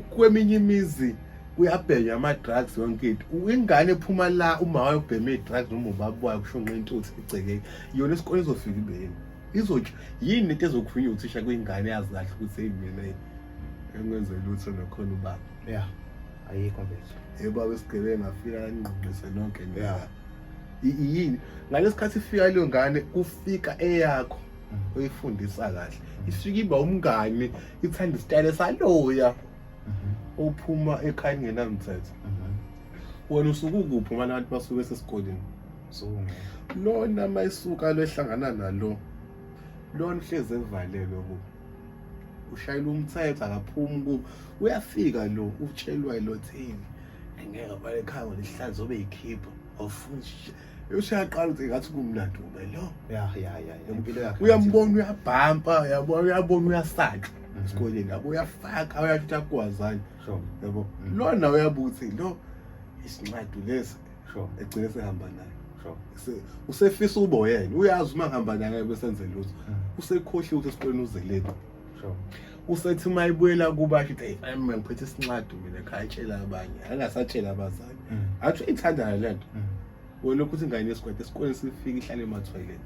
kweminye imizi kuyabhenywa ama-drugs yonke into ingane ephuma la uma wayo ubheme i-drugs noma ubaba wayo kushonqa intuthu egcekeni yona esikoleni izofika ibeni izotsho yini into ezokhulunywa uthisha kwingane yazi kahle ukuthi eyi mina engenze lutho nakhona ubaba ya ayikho mfethu hey baba isigebengu afika anqinqise nonke ya yini ngalesikhathi ifika leyo ngane kufika eyakho mm. oyifundisa kahle mm. ifika iba umngani ithanda isitayile saloya mm-hmm. ophuma ekhaya kungenamthetho mm-hmm. wena usuke ukuphi uma abantu basuke esesikoleni lona mayisuka lo ehlangana nalo lona uhlezi evalelwe kubo ushayela umthetho akaphumi ku uyafika lo utshelwa ilothini engeke vale ekhaya ngoba isihlazi obe yikhipha awufunshi usuyaqala ukuthi ngathi kumnandi ube lo ya ya ya impilo yakhe uyambona uyabhampa uyabona uyabona uyasaka mhm. esikoleni yabo uyafaka uyashuthi akwazani yabo mhm. lona uyabuthi lo isincwadi lesi sure egcine sehamba naye sure usefisa uboyena uyazi uma ngihamba naye bese enze lutho hmm. usekhohliwe ukuthi esikoleni uzeleni sure usethi uma ibuyela kuba athi hey fine mina ngiphethe isincwadi mina khaya tshela abanye angasatshela abazali hmm. athi uyithandana lento hmm. wena ukuthi ingane yesigwede esikoleni sifike ihlale emathwayileni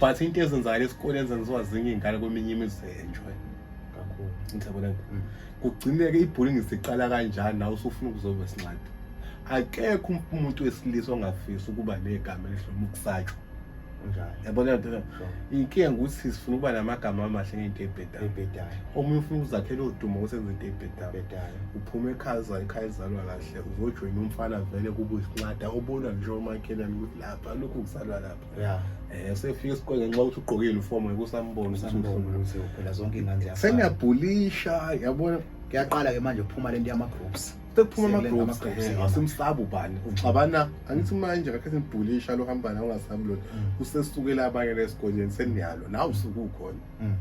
but into ezenzakala esikoleni zenziwa zinye iy'ngane kweminye imizi enjwe ngiyabona mm. kugcineke ibhuli ngisiqala kanjani nawe usufuna ukuzoba sincadi akekho umuntu wesilisa ongafisi ukuba negama elihloma ukusatshwa yabona inkinga ukuthi sifuna ukuba namagama amahle ngento ebhedayo omunye ufuna ukuzakhela udumo kusenza into ebhedayo uphuma ekhaya ekhaya ezalwa kahle uzojoyina umfana vele kubuyisinqada obona nje omakhelani ukuthi lapha lokhu ngisalwa lapha ya eh sefika esikoleni ngenxa ukuthi ugqokile ufomo ngikusambona usambona ukuthi uphela zonke ingane ziyafana sengiyabhulisha yabona kuyaqala ke manje ukuphuma lento yama groups sekuphuma ama groups eh, asimsabu bani uxabana angithi manje kakhe sibhulisha lo hamba nawo ngasabi lona mm. usesukela abanye lesikoleni seniyalo nawu usukukhona mm.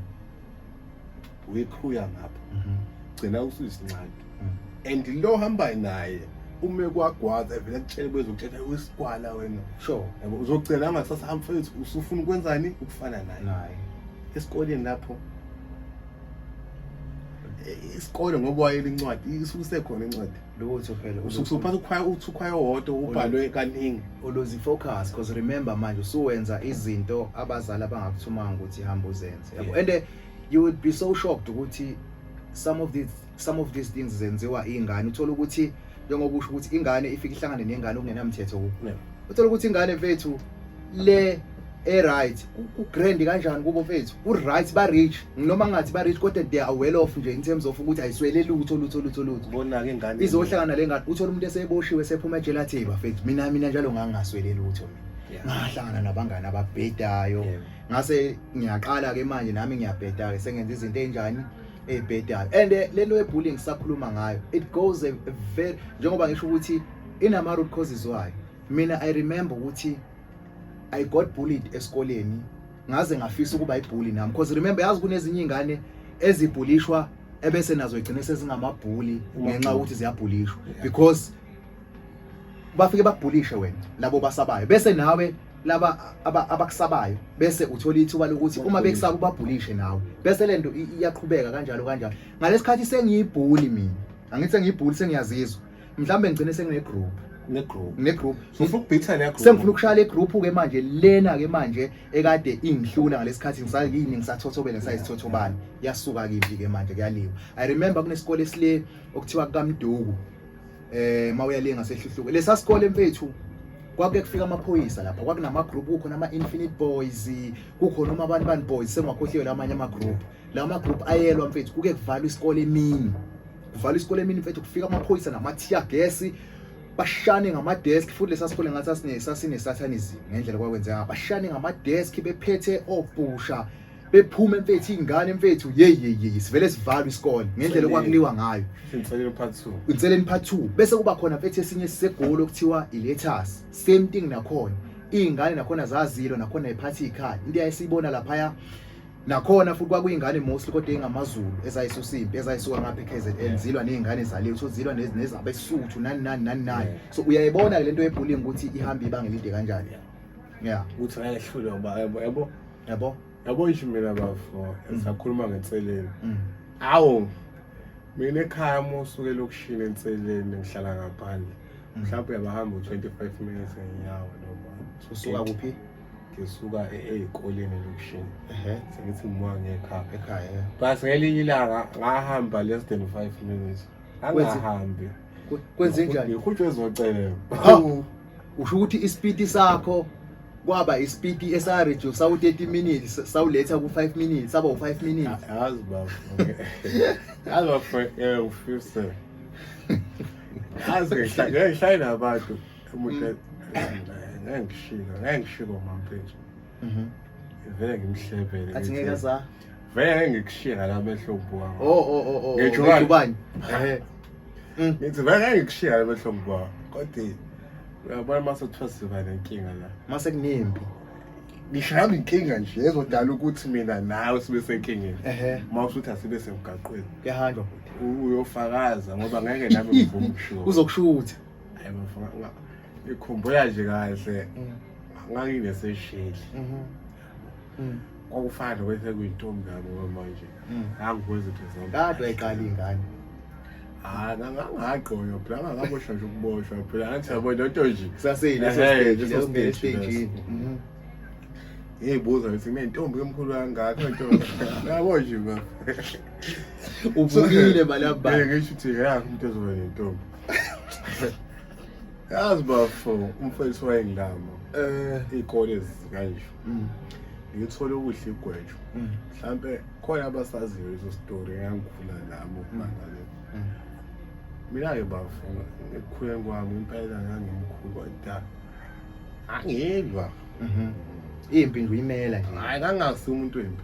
wekhuya ngapha mhm. gcina usuyisinqadi mhm. and lo hambayo naye ume kwagwaza evele kutshele bezokuthetha usikwala wena sure yabo uzogcina angasasa amfethu usufuna ukwenzani ukufana naye naye esikoleni lapho isikole ngoba wayele incwadi isukuse khona incwadi lutho phela usukusuphasa ukhwaya uthi ukhwaya owodwa ubhalwe kaningi uluzi focus because remember manje usuwenza izinto abazali abangakuthumanga ukuthi hamba uzenze yabo and you would be so shocked ukuthi some of these some of these things zenziwa ingane uthola ukuthi njengoba usho ukuthi ingane ifike ihlangane nengane okungenamthetho kuyo uthola ukuthi ingane mfethu le e-right ku-grand kanjani kubo mfethu ku-right ba-rich noma ngathi ba-rich kodwa they are well off nje in terms of ukuthi ayiswele lutho lutho lutho lutho bonake ingane izohlangana le ngane uthole umuntu eseboshiwe sephuma ejele athi bafethu mina mina njalo ngangingaswele lutho mina ngahlangana nabangani ababhedayo yeah. ngase ngiyaqala ke manje nami ngiyabheda ke sengenza izinto enjani ebhedayo and eh, lento ye bullying sakhuluma ngayo it goes a very njengoba ngisho ukuthi inama root causes wayo mina i remember ukuthi i got bullied esikoleni ngaze ngafisa ukuba ibully nami because remember yazi kunezinye ingane ezibhulishwa ebese nazo igcine sezingamabhuli ngenxa ukuthi ziyabhulishwa because bafike bakubhulishe wena labo basabayo bese nawe laba abakusabayo bese uthola ithuba lokuthi uma bekusaba ubabhulishe nawe bese lento iyaqhubeka kanjalo kanjalo ngalesikhathi sengiyibhuli mina angithi sengiyibhuli sengiyazizwa mhlawumbe ngigcine sengine group ne group ne group ngifuna ukubhitha le group sengifuna ukushaya le group ke manje lena ke manje ekade ingihlula ngalesikhathi ngisayini ngisathothobela sayisithothobana yasuka kivi ke manje kuyaliwa i remember kunesikole esile okuthiwa kukamduku eh mawuyaliye ngasehluhluke lesa sikole mfethu kwake kufika amaphoyisa lapha kwakunama group kukhona ama infinite boys kukhona uma abantu bani boys sengwakhohliwe lamanye ama group la ma group ayelwa mfethu kuke kuvalwa isikole emini kuvalwa isikole emini mfethu kufika amaphoyisa nama tear gas bashane ngama desk futhi lesa sikole ngathi asine sasine satanism ngendlela kwakwenzeka bashane ngama desk bephethe obhusha bephuma emfethu ingane emfethu yeyi yeyi yeyi sivele sivalwe isikole ngendlela okwakuliwa ngayo Inselelo part 2. inseleni part 2 bese kuba khona mfethu esinye sisegoli okuthiwa ilethas same thing nakhona iy'ngane nakhona zazilo nakhona iphathi ikhaya into eyayisiyibona laphaya nakhona futhi kwakuyingane mostly kodwa eyingamazulu ezayisusa impi ezayisuka ngapha e-kzn zilwa ney'ngane zaliwe so zilwa nez- nezabesuthu nani nani nani nani so uyayibona-ke le nto yebhullingi ukuthi ihamba ibanga elide kanjani yeah uthi ngeke ehlule ngoba yabo yabo yabo yabo isho mina bafo mm. sakhuluma ngenseleni mm. awu mina ekhaya uma usuke lokushini enseleni ngihlala ngaphandle mm. mhlawumbe uyabahamba u-25 minutes ngenyawo noma usuka kuphi ngisuka eyikoleni lokushini ehe sengithi ngimoa ngekhaya ekhaya bas ngelinye ilanga ngahamba less than 5 minutes angahambi kwenze njani ngihutshwe ezocela hawu usho ukuthi isipiti sakho kwaba isipiti esa reduce sawu 30 minutes sawuletha ku 5 minutes saba u 5 minutes yazi baba yazi baba eh ufuse yazi ngihlale nabantu umuntu ngeke ngishilo ngeke ngishilo mampethu Mhm. Vele ngimhlebele. Athi ngeke za. Vele ngeke ngikushiye ngala mehlo bhuwa. Oh oh oh oh. Ngitsho ngani? Ngubani? Eh. Mm. Ngithi vele ngeke ngikushiye ngala mehlo bhuwa. Kodwa uyabona mase kuthiwa siba nenkinga la. Mase kunempi. Ngisho yami inkinga nje ezodala ukuthi mina nawe sibe senkingeni. Ehhe. Uma usuthi asibe semgaqweni. Kuyahanjwa. U- Uyofakaza ngoba ngeke nami ngivume ukushiwo. Uzokushutha. Hayi bafana. ngikhumbula nje kahle nganginesesheli kwakufana nokwethe kuyintombi yabo kwamanje ngangikwenza into zami kade wayiqala ingane hayi ngangagqonywa phela ngangabosha nje ukuboshwa phela ngathi yabo lento nje kusaseyilesositejini ngiyibuza ngithi kunentombi emkhulu kangaka ntombi yabo nje ba uvukile balabani ngisho ukuthi ya umuntu ezoba nentombi yazi bafo umfowethu wayengilama eh ikole zikanje mm. ngithole ukudla igwejo mm. mhlambe khona abasaziyo izo story ngangikhula nabo mm. mangale mina ke bafo ekukhuleni kwami impela ngangimkhulu kodwa angilwa mhm. impi ngiyimela nje hayi kangasi umuntu wempi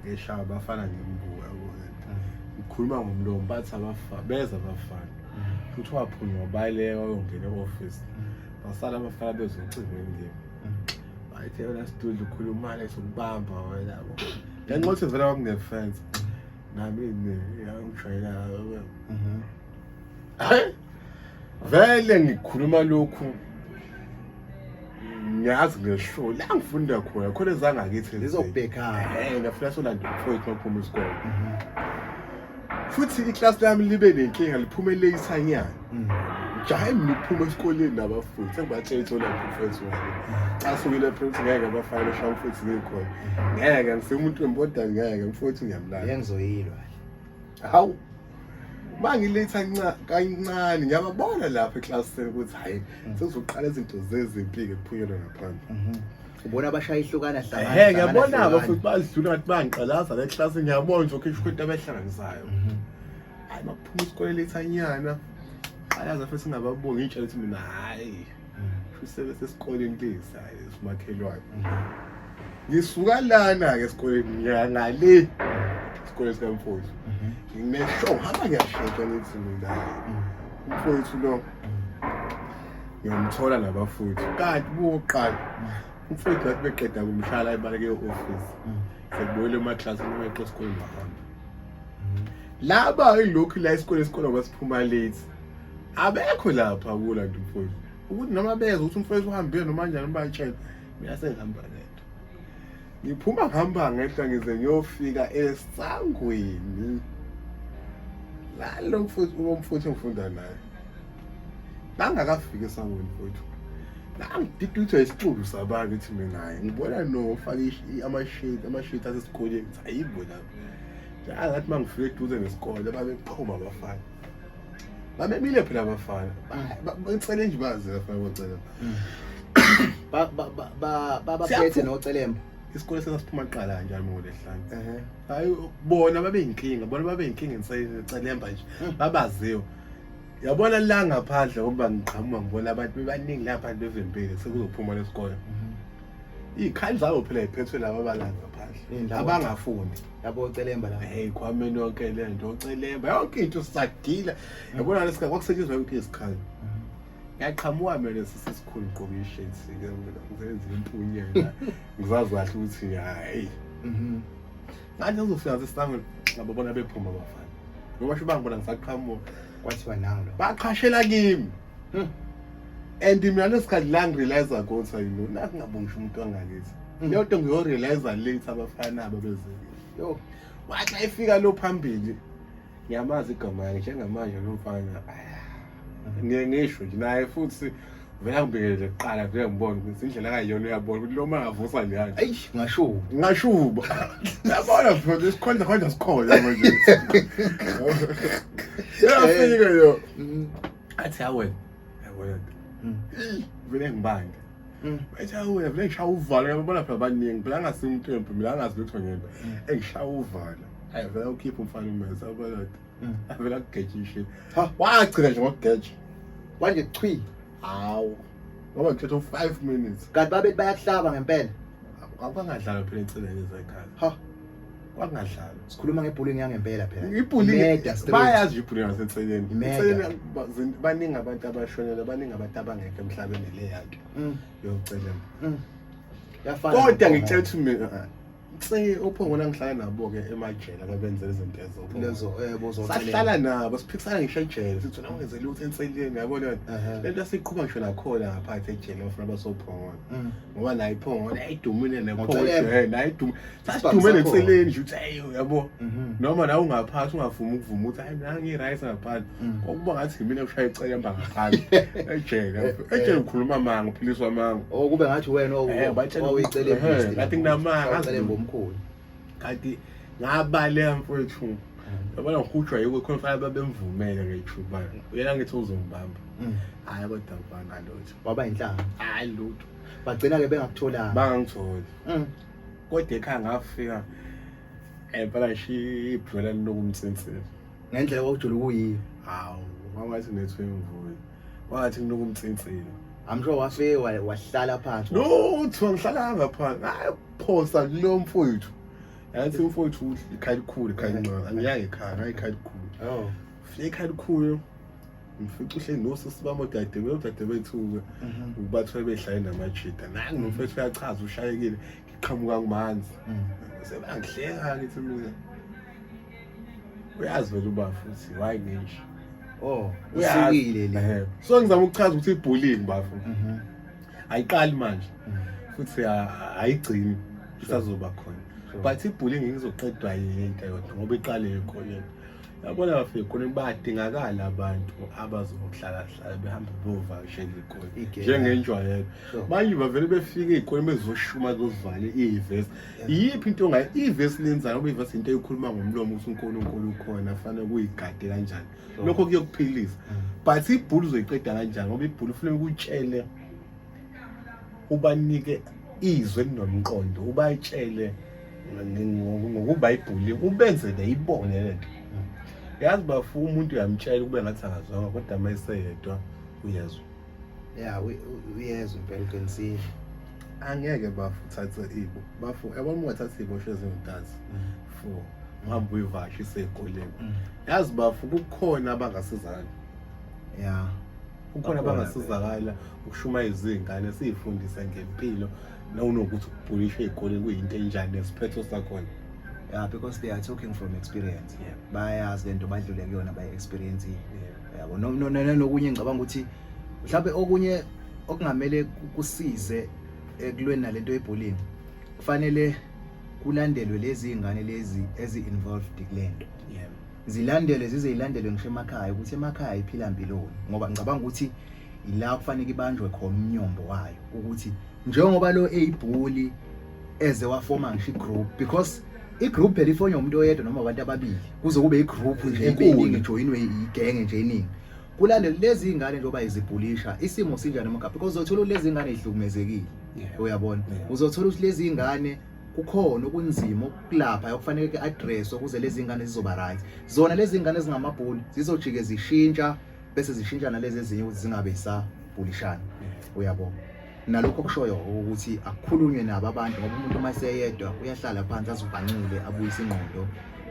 ngishawa abafana ngembuka ngikhuluma ngomlomo bathi abafana beza abafana futhi waphunywa wabaleka wayongena e-ofisi basala abafana bezocingweni kimi ayithe yona sidudla ukhulumane sokubamba wena ngenxa ukuthi vele kwakunefense nami ngiyangishayela hayi vele ngikhuluma lokhu ngiyazi ngeshow la ngifunda khona khona ezangakithi ngizobhekana eh ngiyafuna solanda mfowethu maphuma isikole futhi iklasi lami libe nenkinga liphume leyisanyana jahe mina ukuphuma esikoleni nabafundi sengibatshela ithola mfethu wami xa sukile prince ngeke abafana esha mfethu ngikhona ngeke ngisemuntu wemboda ngeke mfethu ngiyamlala yengizoyilwa hawu mangiletha kancane ngiyababona lapha eklasini ukuthi hayi mm. sekuzoqala izinto zezimpike kuphunyelwa ngaphandle mhm. ubona abashaya ihlukana hlangana ngiyabona-ke futhi badlula ngathi bangiqalaza le klasi ngiyabona nje okhishwa into abehlanganisayo mhm. hayi baphuma isikole lethanyana ayazi afese singababongi itshala ukuthi mina hayi usebe sesikoleni lesi hayi simakhelwane ngisuka lana-ke esikoleni ngiyangale esikoleni sikamfowethu nginesho hamba ngiyashesha ngithi mina umfowethu lo ngiyomthola nabafowethu kanti buwoqala umfowethu wathi beqeda kumshala ibaleke e-ofisi sekubuyele emaklasi noma eqe esikoleni bahamba laba ilokhu la isikole isikole abasiphuma late abekho lapha kula nto mfowethu ukuthi noma beza ukuthi umfowethu uhambile noma njani ubatshela mina sengihamba ngedwa ngiphuma ngihamba ngehla ngize ngiyofika esangweni lalo mfowethu ulo mfowethu engifunda naye bangakafiki esangweni mfowethu nangididutha isixulu sabantu ithi mina ngibona nofaka amashade amashade asesikoleni ayibo lapho angathi uma ngifika eduze nesikole babeqhuma abafana babemile phela abafana bacele nje bazi abafana bacela mm. babaphethe nocelemba isikole sasasiphuma kuqala kanjani ngolesihlanu hayi bona babeyinkinga bona babeyinkinga enseyicelemba nje mm. babaziwe yabona la ngaphandle ngokuba ngiqhamuka ngibona abantu bebaningi lapha bevempile sekuzophuma lesikole mm-hmm. Ikhaya zabo phela iphethwe laba balanga phandle. Abangafuni. Yabo celemba la. Hey kwameni yonke le nto ocelemba. Yonke into sagila. Yabona lesika kwakusetshenzwa yonke isikhathi. Yaqhamuka mina sisikhulu gqoka ishirt sike ngizenza impunyela. Ngizazi kahle ukuthi hayi. Mhm. Ngathi uzofika sesisango ngabo bona bephuma bafana. Ngoba sho bangibona ngisaqhamuka. Kwathiwa nangu. Baqhashela kimi. and mina lesikhathi la ngirealiza konsa yilo nathi ngabongisha umuntu wangakithi hmm. leyo nto ngiyorealiza late abafana aba bezekile yo wathi xa ifika lo phambili ngiyamazi igama yakhe njengamanje lo mfana ngiye ngisho nje naye futhi vela ngibekele kuqala vele ngibona ukuthi indlela kayiyona uyabona ukuthi lo ma avusa njani ayi ngashuba ngashuba yabona futhi isikhonda khonda sikhona manje yafika yo Mm. athi awe yabona Mm. Eyi, vele ngibange Mm. bathi awe vele ngishaya uvalo yabona phela baningi phela angasi umthembu mina angazi lutho ngento engishaya uvalo ayi vele ukhipha umfana umese yabona Mm. avele akugejishe Ha. wagcina nje ngokugeja kwanje chwi hawu ngoba ngithethe u-five minutes kanti babethi bayakuhlaba ngempela kwakungadlalwa phela eceleni ezekhaya ha kwakungadlalwa sikhuluma ngebhulini yangempela phela ibhulini Murder straight. bayazi ibhulini ngaseceleni Imeda. Eceleni ba- zin- baningi abantu abashonela baningi abantu abangekho emhlabeni le yanto Mm, yokucelela mm. Yafana kodwa nokho, ngitshela ukuthi mina se uphongona ngihlala nabo-ke emajela abenze izinto ezosahlala eh, nabo siphikisana ngisho ejele sithi wena ungenze lutho enseleni yabona le nto siqhuba ngisho nakhona ngaphathi ejele bafuna basophongona mm. ngoba naye iphongona ayidumile nephongona sasidume nenseleni nje ukuthi ayi yabo mhm. noma nawe ungaphathi ungavumi ukuvuma ukuthi hayi nangi-right ngaphathi Mm. kwakuba ngathi yimina kushaya icekemba ngaphandle ejele ejele ukhuluma amanga uphiliswa amanga o oh, kube ngathi wena owicelekathi nginamangangomkhulu kanti ngabaleka mfowethu mm. yabona ngihutshwa yiko khona fanele babemvumele ngeyithuba uyena ngithi uzongibamba mm. hhayi kodwa mfana lutho waba yinhlanga hhayi lutho bagcina-ke bengakutholanga bangangitholi kodwa ekhaya ngafika empela shi ibhwela linokumtsinsela ngendlela kwakujula ukuyiyo hawu wawathi nethu imvuyo wathi ngiloko umtsinsile I'm sure wafike wahlala phansi no uthiwa ngihlalanga phansi hayi phosa kulo mfowethu yathi umfowethu ikhaya likhulu ikhaya lincane angiyaye ekhaya hayi ikhaya likhulu oh fike ikhaya likhulu ngifica uhleli nosisi bami odadewethu odadewethu-ke mhm. ubathole behlaye namajida nangu nomfethu uyachaza ushayekile ngiqhamuka kumanzi mm. sebangihleka ngithi mina uyazi vele uba futhi why ngenje oh usikile le so ngizama ukuchaza ukuthi ibullying bafo mhm. ayiqali manje mhm. futhi ayigcini isazoba khona but ibullying ngizoqedwa yinto yodwa ngoba iqale ekhoneni yabona bafike khona badingakala abantu abazohlala hlala behambe bovakashela ikhona njengenjwayelo manje bavele befike ikhona bezoshuma zovala iyivesi iyiphi into ongayi ivesi lenzayo ngoba ivesi into eyikhuluma ngomlomo ukuthi unkulunkulu ukhona fanele kuyigade kanjani lokho kuyokuphilisa but ibhulu uzoyiqeda kanjani ngoba ibhulu funeka ukutshele ubanike izwe elinomqondo ubatshele ngokubhayibhuli ubenze neyibone le nto yazi bafu umuntu uyamtshela ukube ngathi akazwanga kodwa uma eseyedwa uyezwa ya uyezwa impela uqinisile angeke bafu uthathe ibo bafu yabona uma ungathatha iy'bosho ezingudazi mm. four uhambe uyivashe isey'koleni mm. yazi bafu kukhona abangasizakala ya kukhona abangasizakala ukushumayeza iy'ngane siyifundise ngempilo nawunokuthi ukubhulisha ey'koleni kuyinto enjani nesiphetho sakhona yeah because they are talking from experience yeah. bayazi le nto badlule kuyona bayi-experience yeah. yabo nokunye ngicabanga ukuthi mhlawumbe okunye okungamele kusize ekulweni nalento yebullying kufanele kulandelwe lezi ingane lezi ezi involved kulento yebo zilandelwe zize ilandelwe ngisho emakhaya ukuthi emakhaya iphila mpiloni ngoba ngicabanga ukuthi ila kufanele ibanjwe khona umnyombo wayo ukuthi njengoba lo eyibhuli eze wafoma ngisho igroup because igroup phela ifonywa umuntu oyedwa noma abantu ababili kuze kube igroup nje ibeningi ijoyinwe igenge nje iningi kulale lezi ingane njengoba izibhulisha isimo sinjani emgabha because uzothola ukuthi lezi ingane izihlukumezekile uyabona uzothola ukuthi lezi ingane kukhona okunzima okulapha okufanele ke address ukuze lezi ingane zizoba right zona lezi ingane ezingamabhuli zizojike zishintsha bese zishintshana lezi ezinye ukuthi zingabe sa bulishana uyabona nalokho kushoyo ukuthi akukhulunywe nabo abantu ngoba umuntu uma eseyedwa uyahlala phansi azibhancile abuyise ingqondo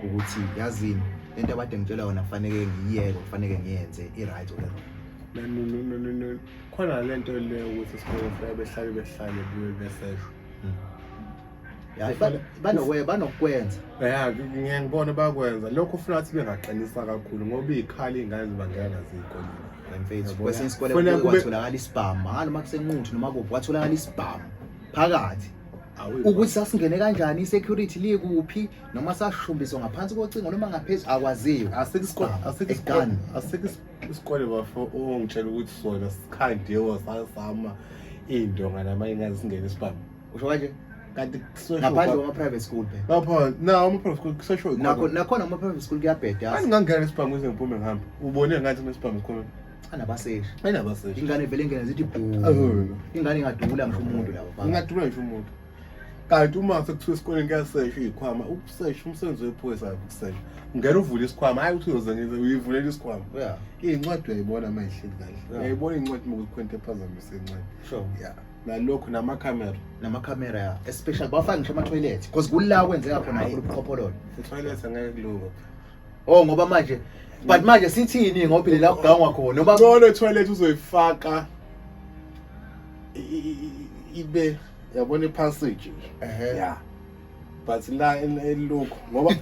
ukuthi yazini lento abade ngitshela yona kufaneke ngiyiyeke kufaneke ngiyenze i-right or wrong khona le nto le ukuthi sikhona behlale behlale bube beseshwa hmm. yazi Ba- banokwe- banokwenza ya ngiye ngibone bakwenza lokho ufuna ukuthi bengaqinisa kakhulu ngoba iy'khali iy'ngane zibangela naziyikoleni mfethu Yabo, kwesinye ya. isikole Kufanele kuke kube- kwatholakala isibhamu hhayi noma kusenquthu noma kuphi kwatholakala isibhamu phakathi ukuthi sasingene kanjani i-security likuphi noma sashumbiswa ngaphansi kocingo noma ngaphezulu akwaziyo Egan. asikho isikole bafo ongitshela ukuthi sona sikhandiwe sasama iy'ndonga nama ingane zingene isibhamu usho kanje kanti ngaphandle kwama-private school phela lapho na ama-private school kusesho nakho nakhona ama-private school kuyabheda yazi angingangena nesibhamu ize ngiphume ngihambe ubone ngathi nesibhamu sikhona anabaseshi ayinabaseshi ingane vele ingene zithi bhu ingane ingadubula ngisho umuntu labo ingadubula ngisho umuntu kanti uma sekuthiwa esikoleni kuyasesha iy'khwama ukusesha umsebenzi wephoyisa akho ukusesha ungena uvule isikhwama hhayi ukuthi uyoze ngize uyivulela isikhwama iy'ncwadi uyayiboona uma ihleli kahle uyayibona iy'ncwadi uma kuzikhwenta ephazamisa incwadi ya nalokhu namakhamera namakhamera ya especially bafake ngisho ama-toilet because kula kwenzeka khona kakhulu ubuqhophololo i-toilet angeke kulunga oh ngoba manje but manje sithini ngoba phela la kugangwa khona noma ngcono i-toilet uzoyifaka i- i- i- ibe yabona i-passage nje Ehhe. ya but la elokhu ngoba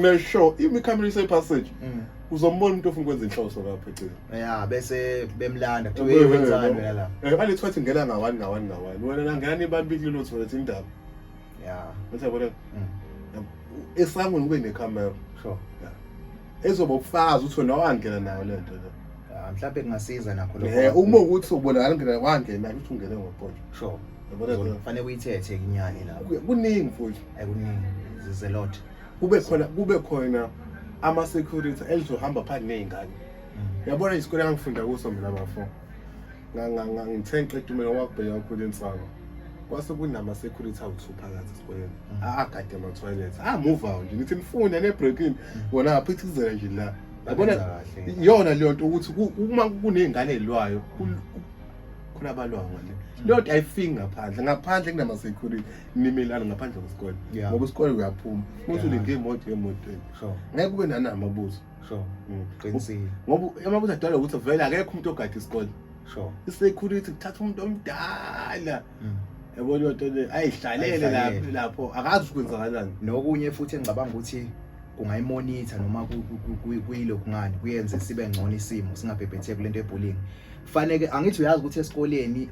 mesho imikhamera ise passage mm. uzombona umuntu ofuna ukwenza inhloso lapha eceleni ya bese bemlanda kuthiwa hey wenzani wena la eh bale thwathi ngena ngawani ngawani ngawani wena nangena nibambili lo thola indaba ya bese yabona mm. esangweni kube necamera sure yeah ezoba ubufakazi ukuthi wena wangena nayo le nto le Ah, mhlawumbe kungasiza nakho Eh, lokho uma ukuthi ubonakala ngena wangena ukuthi ungene ngoqondo sure Yabona ke? kufanele uyithethe inyani lapho Ku- kuningi mfowethu ayikuningi there's a lot kube khona kube khona ama security elizohamba phandle nezingane Mm. yabona isikole engangifunda kuso mina bafo ngithe ngiqeda umela wakubheka kakhulu insaba kwase kunama-security awu-two phakathi esikoleni mm. agade ama-toilet amuva ah, nje ngithi nifune nebreakini wona mm. aphithizela nje la yabona iyona leyo nto ukuthi uma kuney'ngane elwayo mm. khona abalwayo ngale leyo nto ayifiki ngaphandle ngaphandle kunama-security nimelana ngaphandle kwesikole ngoba isikole uyaphuma futhi ulinge imoto emotweni ngeke kube nanamabuzo sure mm, qinisile ngoba uma kuzadala ukuthi vele akekho umuntu ogada isikole sure isecurity kuthatha umuntu omdala mm. yabo leyo nto le ayihlalele lapho lapho akazi ukwenzakalani nokunye futhi engicabanga ukuthi kungayimonitha noma kuyilokhu ngani kuyenze sibe ngcono isimo singabhebhetheki lento ebullying kufanele angithi uyazi ukuthi esikoleni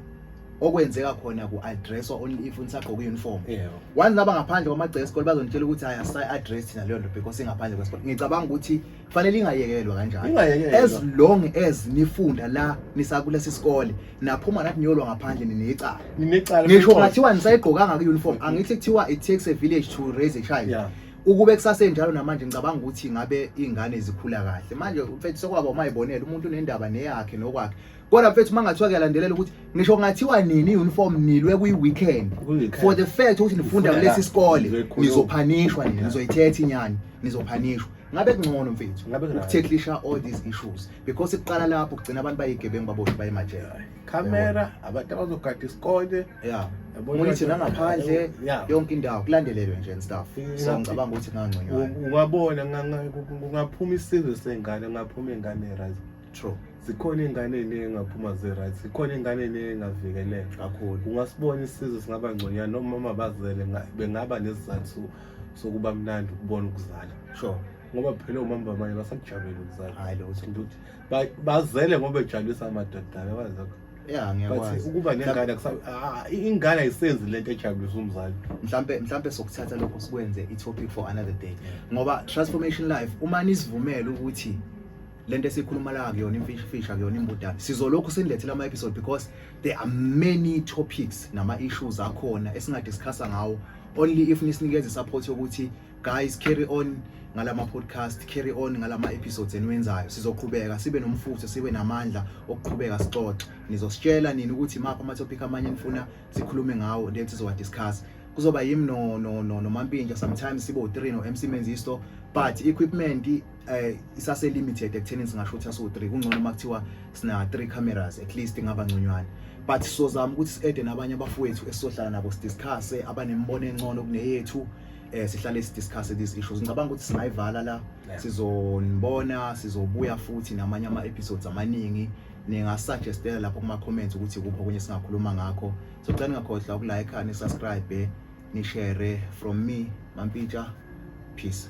okwenzeka khona ku addresswa only if nisagqoka uniform yebo once laba ngaphandle kwamagceke esikole bazonitshela ukuthi hayi asay address thina leyo nto because ingaphandle kwesikole ngicabanga ukuthi fanele ingayekelwa kanjalo Ingayekelwa. as long as nifunda la nisakulesi sikole naphuma nathi niyolwa ngaphandle ninecala ninecala ngisho futhi. ngathiwa nisayigqokanga ku-uniform angithi kuthiwa it takes a village to raise a child Yeah. ukube kusasenjalo namanje ngicabanga ukuthi ngabe iy'ngane zikhula kahle manje mfethu sekwaba umayibonela umuntu unendaba neyakhe nokwakhe kodwa mfethu uma ngathiwa kuyalandelela ukuthi ngisho ngathiwa nini i-uniform nilwe kwi-weekend for the fact ukuthi nifunda kulesi sikole nizophanishwa nini nizoyithetha inyani nizophanishwa ngabe kungcono mfethu ukutheklisha all these issues because iqala lapho kugcina abantu bayigebengu baboshwe bayemajele camera abantu abazogada isikole yeah monitor nangaphandle yonke indawo kulandelelwe nje and stuff so ngicabanga ukuthi kungangconywana ungabona kungaphuma isizwe sengane kungaphuma ingane right true zikhona iy'ngane ey'ningi engaphuma zi-right zikhona iy'ngane ey'ningi engavikeleka kakhulu ungasibona isizwe singaba ngconyana nomama bazele bengaba nesizathu sokuba mnandi ukubona ukuzala sure ngoba phela omama bamanye basakujabela ukuzala hayi lo uthi ukuthi bazele ngoba bejabulisa amadoda yabazi lokho ya ngiyakwazi ukuba nengane ah, ingane ayisenzi lento ejabulisa umzali mhlambe mhlambe sokuthatha lokho sikwenze i-topic for another day ngoba transformation life uma nisivumela ukuthi lento esikhuluma la kuyona imfishifisha kuyona imbudane sizolokhu sinilethela ama episode because there are many topics nama issues akhona esinga discussa ngawo only if nisinikeze support yokuthi guys carry on ngalama podcast carry on ngalama episodes eniwenzayo sizoqhubeka sibe nomfutho sibe namandla okuqhubeka sixoxe nizositshela nini ukuthi maphi ama topic amanye nifuna sikhulume ngawo then sizowa discuss kuzoba yimi no no no nomampintsha sometimes sibo 3 no MC Menzisto but equipment eh isase limited ekutheni singasho ukuthi aso 3 kungcono makuthiwa sina 3 cameras at least ingaba ngconywana but sizozama ukuthi siede nabanye abafowethu esizohlala nabo sidiscuss abanembono encono kuneyethu eh sihlale sidiscuss these issues ngicabanga ukuthi singayivala la sizonibona sizobuya futhi namanye ama episodes amaningi ningasuggestela lapho kuma comments ukuthi kuphi okunye singakhuluma ngakho so cela ningakhohlwa ukulike ni subscribe ni share from me mampitsha peace